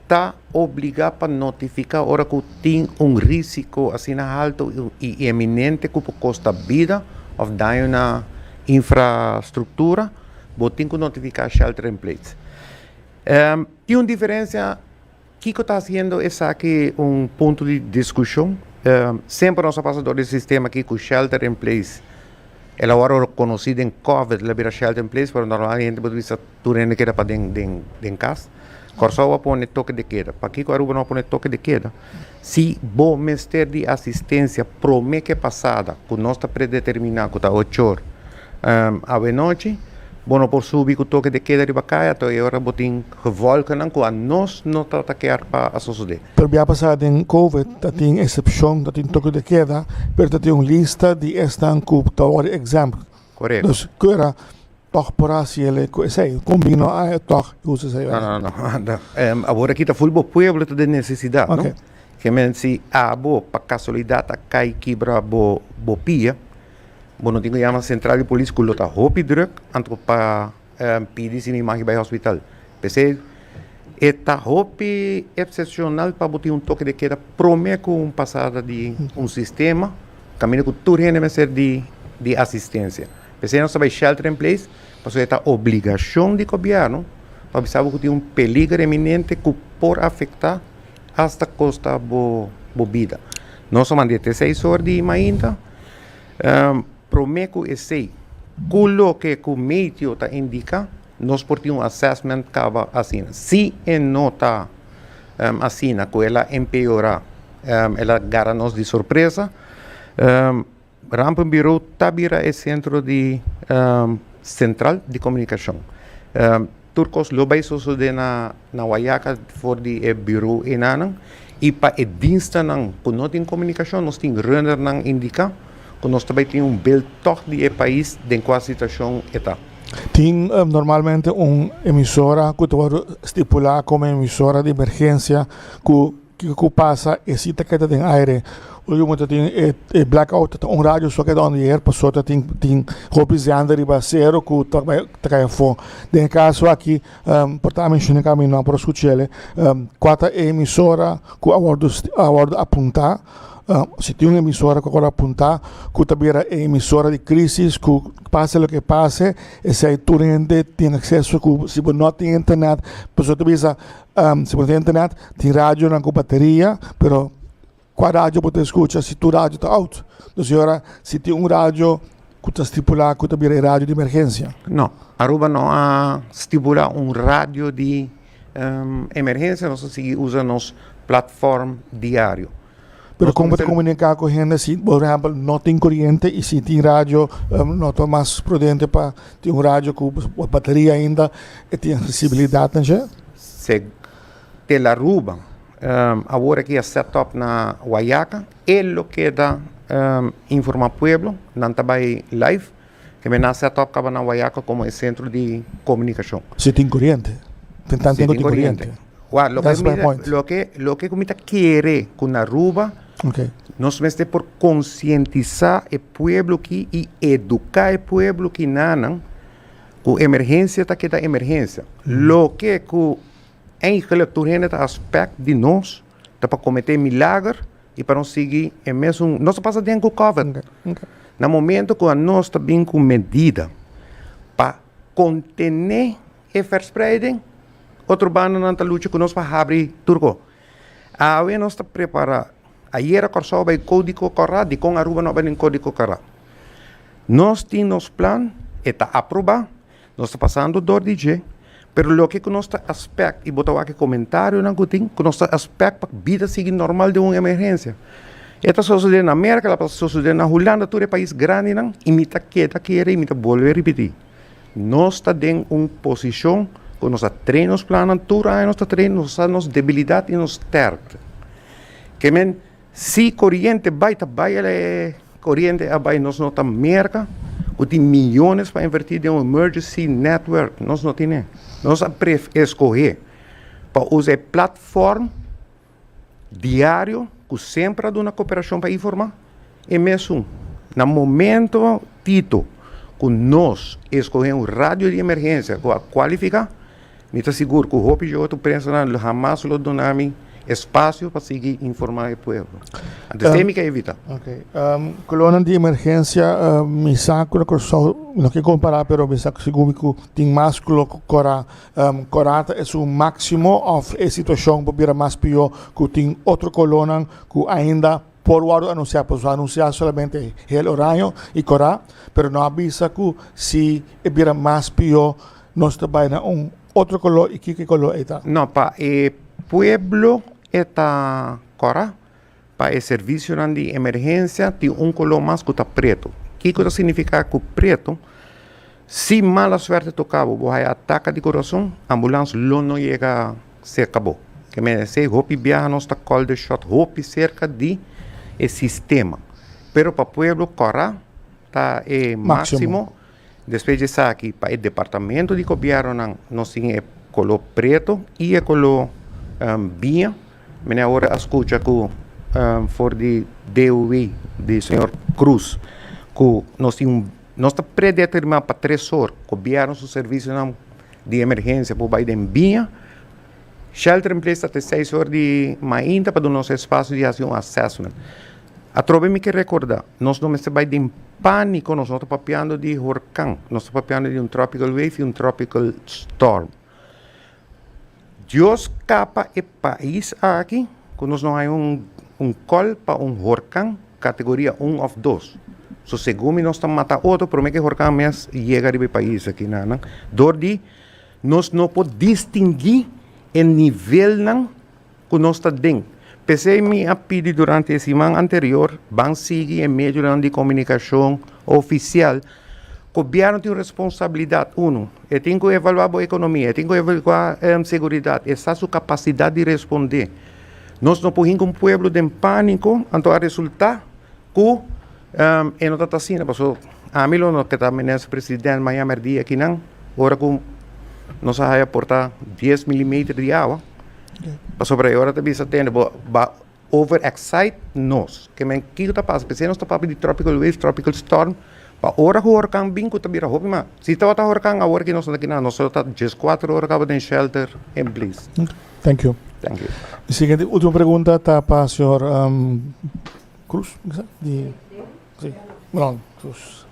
ta obligá pa notifiká ora ku tin un risiko asina haltu i eminente ku por kosta bida òf daño na infrastruktura, bo tin ku notifiká shelter in place. tin un diferensia. Kiko ta hasiendo esaki un punto di diskushon? Semper nos a pasa dor di sistema aki ku shelter in place. El awor ora konosí den kòvid el a bira shelter in place pero normal hende bo ta bisa tur hende keda pa den den den kas. Kòrsou a pone toke de keda. Pakiko Aruba no a pone toke de keda? Si bo mester di asistensia promé ke pasada ku nos ta predeterminá ku ta ochor awenochi, bo no por subi ku toke de keda riba kai ata e ora bo tin gewòlkennan ku a nos no ta ta kier pa a sosodé. Pero bia pasá den Covid ta tin esepshon, ta tin toke de keda, pero ta tin un lista di esnan ku ta wòrdu exempt. Korekto. Dus ku era Tòg por hasi el e ku esei. Kon bin lo a e tòg i usa esei ora? No, no, no. Awor aki ta ful bo pueblo ta den nesesidat, no? Oke. Ke men si abo pa kasualidat a kai kibra bo bo pia, bo no tin ku yama sentral di polis ku lo ta hopi drùk anto pa pidi si mi maki bai hospital. P'esei e ta hopi epsepshonal pa bo tin un toke de keda promé ku un pasada di un sistema kaminda ku tur hende mester di di asistensia. P'esei nos ta bai shelter in place pasobra e ta obligashon di gobièrnu pa avisa bo ku tin un peliger eminente ku por afektá asta kosta bo bo bida. Nos ta manda e te seis or di mainta promé ku esei ku loke ku meteo ta indiká nos por tin un assessment kaba asina. Si e no ta asina ku el a empeorá el a gara nos di sorpresa. Rampen Birou ta bira e sentro di sentral di komunikashon. Tur kos lo bai sosodé na Wayaka for di e birou enanan i pa e dienstanan ku no tin komunikashon nos tin runnernan indiká ku nos ta bai tin un beel tog di e pais den kua situashon e ta. Tin normalmente un emisora ku ta wòrdu stipulá kome emisora di emergensia ku. Kiko ku pasa e sita ke ta den aire ora yu motor tin e blackout ta un radio so ke ta ondier paso ta tin tin hopi zender riba acero ku ta bai ta kai afo den e kaso aki por ta menshone kaminda mi no a por a skuchele kua ta e emisora ku a wordu a wordu apunta si tin un emisora ku a wordu apunta ku ta bira e emisora di krisis ku pase loke pase esei tur hende tin akseso ku si bo no tin internet paso ta bisa Si bo tin internet tin radionan ku bateria pero kua radio bo ta eskucha si tur radio ta out? Entonces e ora si tin un radio ku ta stipula ku ta bira e radio di emergensia. No Aruba no a stipula un radio di emergensia nos a sigui usa nos platform diario. Pero como te comunica cu hende si por ejemplo no tin coriente y si tin radio no ta mas prudente pa tin un radio cu bateria ainda e tin accesibilidad nansha? Se te la ruba awor aki a set up na Guayaca e lo keda informa pueblo nan ta bay live. E mena setup kabanan Wayaka komo e sentro di komunikashon. Si tin koriente. Tin tanta ku tin koriente. Wa loke mi ta loke loke ku mi ta kere ku na Aruba nos mester por konsientisá e pueblo aki i eduká e pueblo aki nanan ku emergensia ta keda emergensia loke ku eigelik tur hende ta aspèk di nos. ta pa cometé milager y pa nos sigui e mesun nos ta pasa den cu covid na momento cu nos ta bin cu medida pa contené e verspreiding otro banda nan ta lucha cu nos pa habri tur co awe nos ta prepara ayera Kòrsou bay codico cara dicon Aruba no bay den codico cara nos tin nos plan e ta aproba Nos ta pasando dor di dje, pero loke ku nos ta espèk i bo ta wak e komentarionan ku tin ku nos ta espèk pa bida sigui normal den un emergensia. E ta sosodé na Merka, lo ta sosodé na Hulanda, tur e pais grandinan, i mi ta keda kere i mi ta bolbe ripití, nos ta den un posishon ku nos a train nos plannan, tur aña nos ta train, nos a sa nos debilidat i nos stèrkte. Ke men. Si coriente bay ta bay el e coriente a bay nos no ta merca cu tin millones pa inverti den un emergency network nos no tin e nos a pref escoge pa usa e platform diario cu semper a duna coperacion pa informa e mesun na momento tito cu nos escoge un radio di emergencia cu a cualifica. Mi ta sigur ku hopi Youtube prensanan lo hamas lo duna mi espasio pa sigui informá e pueblo. Antes te mi ke evitá. Ok. Kolonnan di emergensia, mi sa ku na Kòrsou, mi no ke kompará pero mi sa sigur mi ku tin mas ku lo kòrá. Kòrá ta e su máksimo òf e situashon por bira mas pió ku tin otro kolonnan ku ainda. Por wòrdu anunsiá, pues lo anunsiá solamente hel oraño i korá, pero no a bisa ku si e bira mas pió nos ta bai na un otro koló i kiko e koló ei ta. No, pa e pueblo e ta korá, pa e servisionan di emergensia tin un koló mas ku ta pretu. Kiko ta signifiká ku pretu? Si mala suerte toka bo, bo haya ataka di corazon, ambulans lo no yega cerca bo. Ke mester esey, hopi biaha nos ta call the shot hopi cerca di e sistema. Pero pa pueblo Cora ta e maximo. Despues di esaki pa e departamento di gobiernonan nos tin e color preto y e color biña. Mene awor a scucha cu for di DOW di señor Cruz cu nos tin un Nos ta predetermá pa tres or gobièrnu su servisionan di emergensia por bai den biña. Shelter in place ta te seis or di mainta pa duna nos e spasio di hasi un assessment. Atrobe mi ke rekordá, nos no mester bai den pániko, nos no ta papiando di horkan, nos ta papiando di un tropical wave i un tropical storm. Dios kapa e pais aki ku nos no haña un kòl pa un horkan kategoria un òf dos. So segun mi nos ta mata otro promé ku e horkan mes yega riba e pais aki nan dor di nos no por distingui e nivelnan ku nos ta den. P'esei mi a pidi durante e siman anterior ban sigui e medionan di komunikashon ofisial. Gobièrnu tin responsabilidat, unu, e tin ku evaluá bo ekonomia, e tin ku evaluá seguridat, e sa su kapasidat di respondé. Nos no por hinka un pueblo den pániko, anto a resultá. Ku e no ta ta asina paso ami lo no ke ta menes president maña merdía aki nan ora ku nos a haya porta dies milimeter di awa pasobra e ora ta bisa tene bo ba over excite nos ke men kiko ta pasa p'esei nos ta papia di tropical wave tropical storm pa ora ku hurkan bin ku ta bira hopi mas si tabata hurkan awor aki nos no ta kinan nos lo ta dies kuater ora kaba den shelter en plis. Thank you. Thank you. Di siguiente ultimo pregunta ta pa señor. Cruz di si non cruz.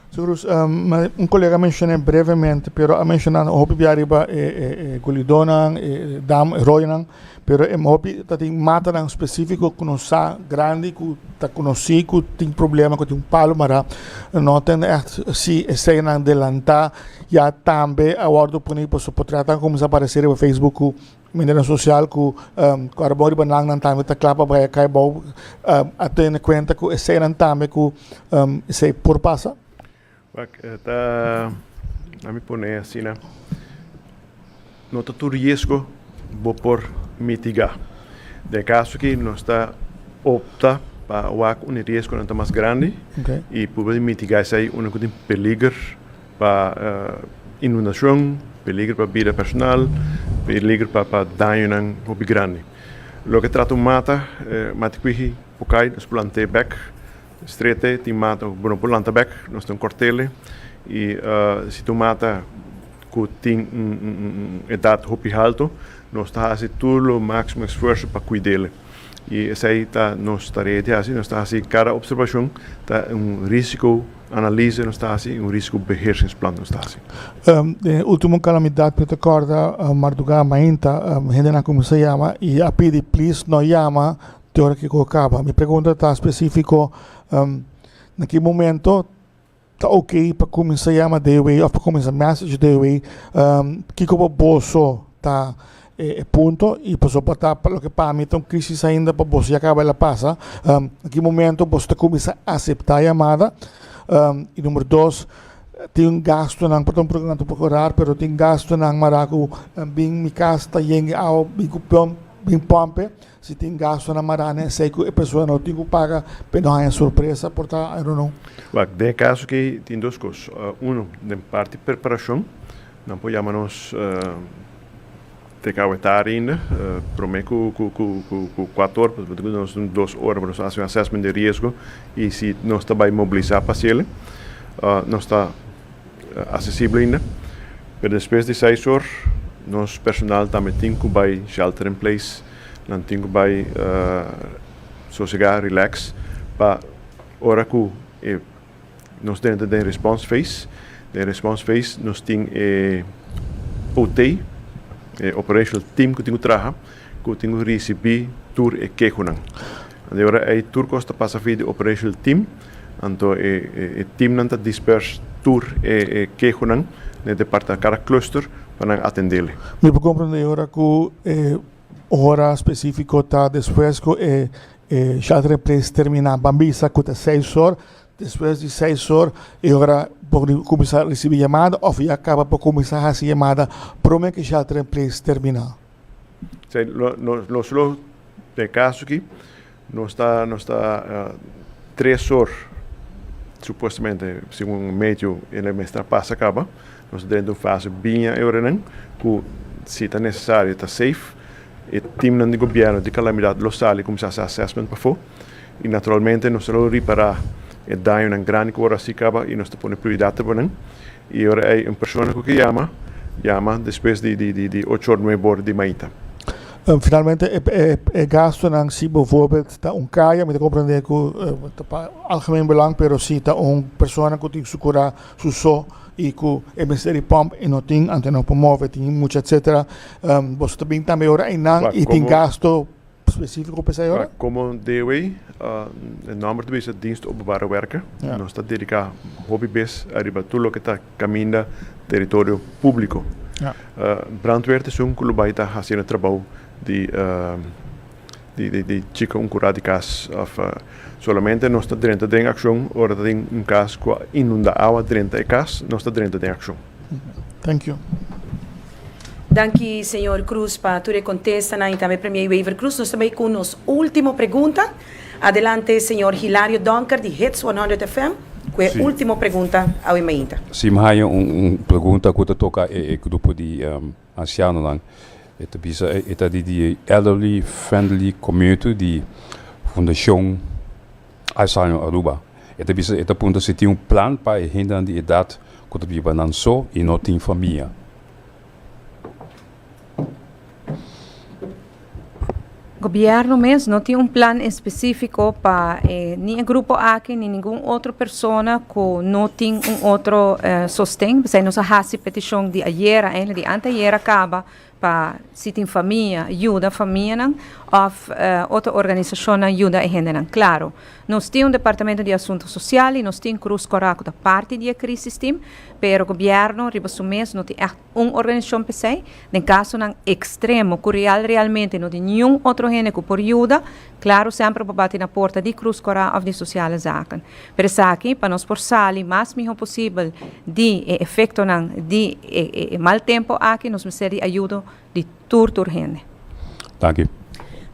Su Cruz, me un colega mencioné brevemente, pero a mencionar un hopi bia arriba e, e, e gulidonan, e dam, e royonan, pero e hopi ta tin matanan específico que no sa grande que ta conocí que tin problema que tin un palo mara, no ten echt si e señanan delanta ya tambe a wordo poni pa su portretnan comenza aparecer riba Facebook Mindernan sosial ku kòrpobon riba nan nan tambe ta kla pa bai a kai bou a tene kuenta ku esenan tambe ku esei por pasa. Wak, ta ami pone asina, no ta tur riesgo bo por mitigá. Den e kaso ki nos ta opta pa wak unda e riesgonan ta mas grandi i purba di mitigá esei unda ku tin peliger. Pa inundacion, peligro pa bida personal, peligro pa dañonan hopi grandi. Loke trata un mata, mati cuiji por cay, nos por lant'e bek, streat'e, tin mata cu bo no por lanta bek, nos tin cortele. Y si ta un mata cu tin un edad hopi halto, nos ta haci tur lo maximo esfuerso pa cuidele. y esai ta nos tarea di haci, nos ta haci cada observacion ta un risico analise nos ta haci y un risico beheershingsplan nos ta haci. Den e ultimo calamidad mi ta corda marduga mainta hendenan cuminsa yama y a pidi please no yama te ora cu e coho caba. Mi pregunta ta specifico na ki momento. Ta ok pa cuminsa yama de way of pa cuminsa message de way kico pa boso ta e punto y paso pa ta pa loke pami ta un crisis ainda pa boso ya caba el a pasa ki momento boso ta cuminsa acepta yamada y numero dos tin gastonan pasobra por ejemplo por corar pero tin gastonan mara cu bin mi cas ta yengue awa bin cu pump bin pump e Si tin gastunan maráne esei ku e persona no tin ku paga pa e no haña sorpresa por ta en reunion. Wak, den e kaso akí tin dos kos. Uno, den parti preparashon nan por yama nos te ka awe tari ainda. Promé ku kuato or pasobra tin ku nos un dos ora pa nos hasi un assessment di riesgo i si nos ta bai mobilisá pa hasiel. Nos ta Asesibel ainda, pero despues di seis or nos personal tambe tin cu bay shelter in place, nan tin cu bay sosega, relax, pa ora cu e nos ta entra den response phase, den response phase nos tin e OT, e operational team cu tin cu traha, cu tin cu ricibi tur e kehonan. Di ora ey tur cos ta pasa afi di operational team. Anto e teamnan ta dispers tur e kehonan na e departa kada cluster pa nan atendele. Mi por comprende ora cu e ora specifico ta despues cu e shelter in place termina. Ban bisa cu ta seis or, despues di seis or e ora por di cuminsa ricibi yamada of ya caba por cuminsa haci yamada prome cu e shelter in place termina. Nos lo den caso aki. Nos ta nos ta tres or supuestamente segun medio e lo mester a pasa caba nos ta drenta un fase bien a e oranan cu si ta necesario ta safe e teamnan di gobierno di calamidad lo sali cuminsa haci assessment pafo y naturalmente nos ta lo ripara e dañonan grandi cu ora haci caba y nos ta pone prioridad ta bonan I ora ei un persona ku ke yama, yama despues di di ocho or nuebe or di maita. Finalmente e gastonan si bo voorbeeld ta un kaya mi ta komprende ku ta pa algemeen belang pero si ta un persona ku tin su kura su so i ku e mester di pump i no tin anto no por move tin mucha etsetera boso ta bin tambe ora einan i tin gasto. Specifico pa esai ora? Como Dewey, e nomber ta bisa Dienst Openbare Werken. Nos ta dedica hopi bes ariba tur loke ta caminda territorio publico. Brandweer ta esun cu lo bay ta haci na trabao di di chica un cura di cas of solamente nos ta drenta den accion ora ta tin un cas cu a inunda awa drenta e cas, nos ta drenta den accion. Thank you. Danki señor Cruz pa tur e contestanan y tambe Premier Wever Croes. Nos ta bay cu nos ultimo pregunta. Adelante señor Hilario Donker di Hits 100 FM cu e ultimo pregunta awe mainta. Si mi haya un pregunta cu ta toca e grupo di. Ansianonan, e ta bisa e ta di di Elderly Friendly Community di Fundashon Alzheimer Aruba. E ta bisa e ta punta si tin un plan pa e hendenan di edat ku ta biba nan so i no tin famia. Gobièrnu mes no tin un plan espesífiko pa e ni e grupo aki ni ningun otro persona ku no tin un otro sosten. P'esei nos a hasi petishon di ayera, eindelijk di anteayera kaba, pa si tin famia yuda famianan òf otro organisashonnan yuda e hendenan. Klaro, nos tin un departamentu di asuntu sosial i nos tin Krus Kòròk ku ta parti di e krisistim, pero gobièrnu riba su mes no tin ègt. un organisacion pesey den casonan extremo cu real realmente no tin niun otro hende cu por yuda, claro semper bo bati na porta di Cruz Cora of di Sociale Zaken. Pero esaki pa nos por sali mas miho posibel di e efectonan di e mal tempo aki nos mester di ayudo di tur tur hende. Danki.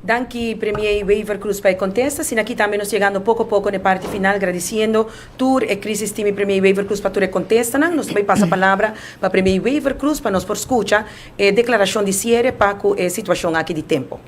Danki Premier Wever Croes pa e contesta. Asina aki tambe nos yegando poco a poco n'e parti final gradiciendo tur e crisis team y Premier Wever Croes pa tur e contestanan. Nos ta bay pasa palabra pa Premier Wever Croes pa nos por scucha e declaracion di cierre pa cu e situacion aki di tempo.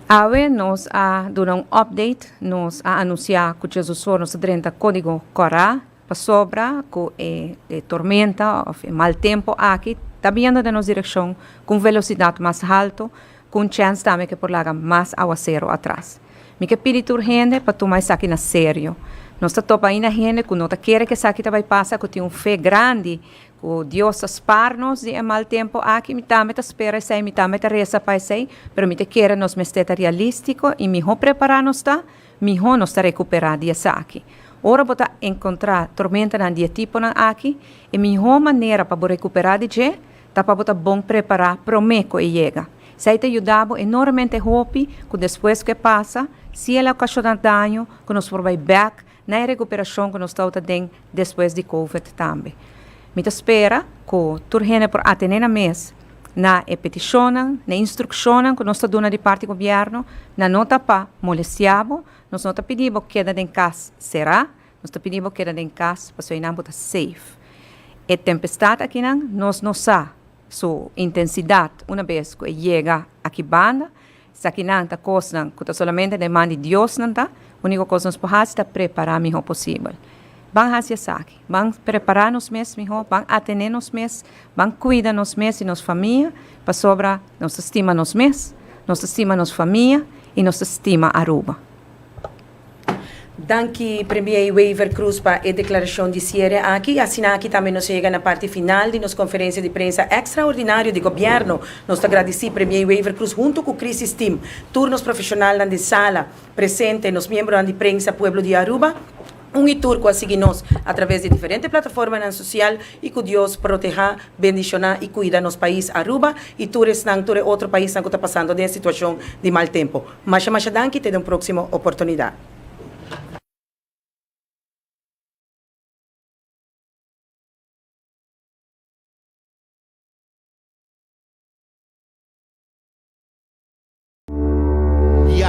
Awe nos a duna un update, nos a anuncia cu Chesosor nos ta drenta codigo Cora Pasobra ku e tormenta òf e mal tempu aki ta biendo den nos direkshon ku un velosidat mas haltu, ku un chèns tambe ke por laga mas awaseru atras. Mi ke pidi tur hende pa tuma esaki na serio. Nos ta topa ainda hende ku no ta kere ku esaki ta bai pasa, ku tin un fe grandi ku Dios ta spar nos di e mal tempu aki. Mi tambe ta spera esei, mi tambe ta resa pa esei, pero mi ta kere nos mester ta realístiko i mihó prepará nos ta, Mihó nos ta rekuperá di esaki. Ora bo ta enkontrá tormentanan di e tiponan aki, e mihó manera pa bo rekuperá di dje ta pa bo ta bon prepará promé ku e yega. Esei ta yuda bo enormemente hopi ku despues ku e pasa, si el a okashoná daño, ku nos por bai bèk na e rekuperashon ku nos tabata den despues di covid tambe. Mi ta spera ku tur hende por atené nan mes na e petishonnan, na e instrukshonnan ku nos ta duna di parti gobièrnu, nan no ta pa molestiá bo, nos no ta pidi bo keda den kas será, nos ta pidi bo keda den kas pasobra einan bo ta safe. E tempestat akinan nos no sa su intensidat una bes ku e yega aki banda, Esakinan ta kosnan ku ta solamente den man di Dios nan ta. Úniko kos nos por hasi ta prepará mihó posibel. Ban hasi esaki, ban prepará nos mes mihó, ban atené nos mes, ban kuida nos mes i nos famia, pasobra nos ta stima nos mes, nos ta stima nos famia i nos ta stima Aruba. Danki Premier Wever Croes pa e declaracion di cierre aki. Asina aki tambe nos a yega na parti final di nos conferencia di prensa extraordinario di Gobierno. Nos ta gradici Premier Wever Croes hunto cu Crisis Team, tur nos profesionalnan den sala presente, nos miembronan di prensa, pueblo di Aruba, un y tur cu a sigui nos a traves di diferente plataformanan social y cu Dios proteha, bendiciona y cuida nos pais Aruba y tur esnan, tur e otro paisnan cu ta pasando den e situacion di mal tempo. Masha masha danki te den proximo oportunidad.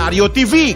Diario TV.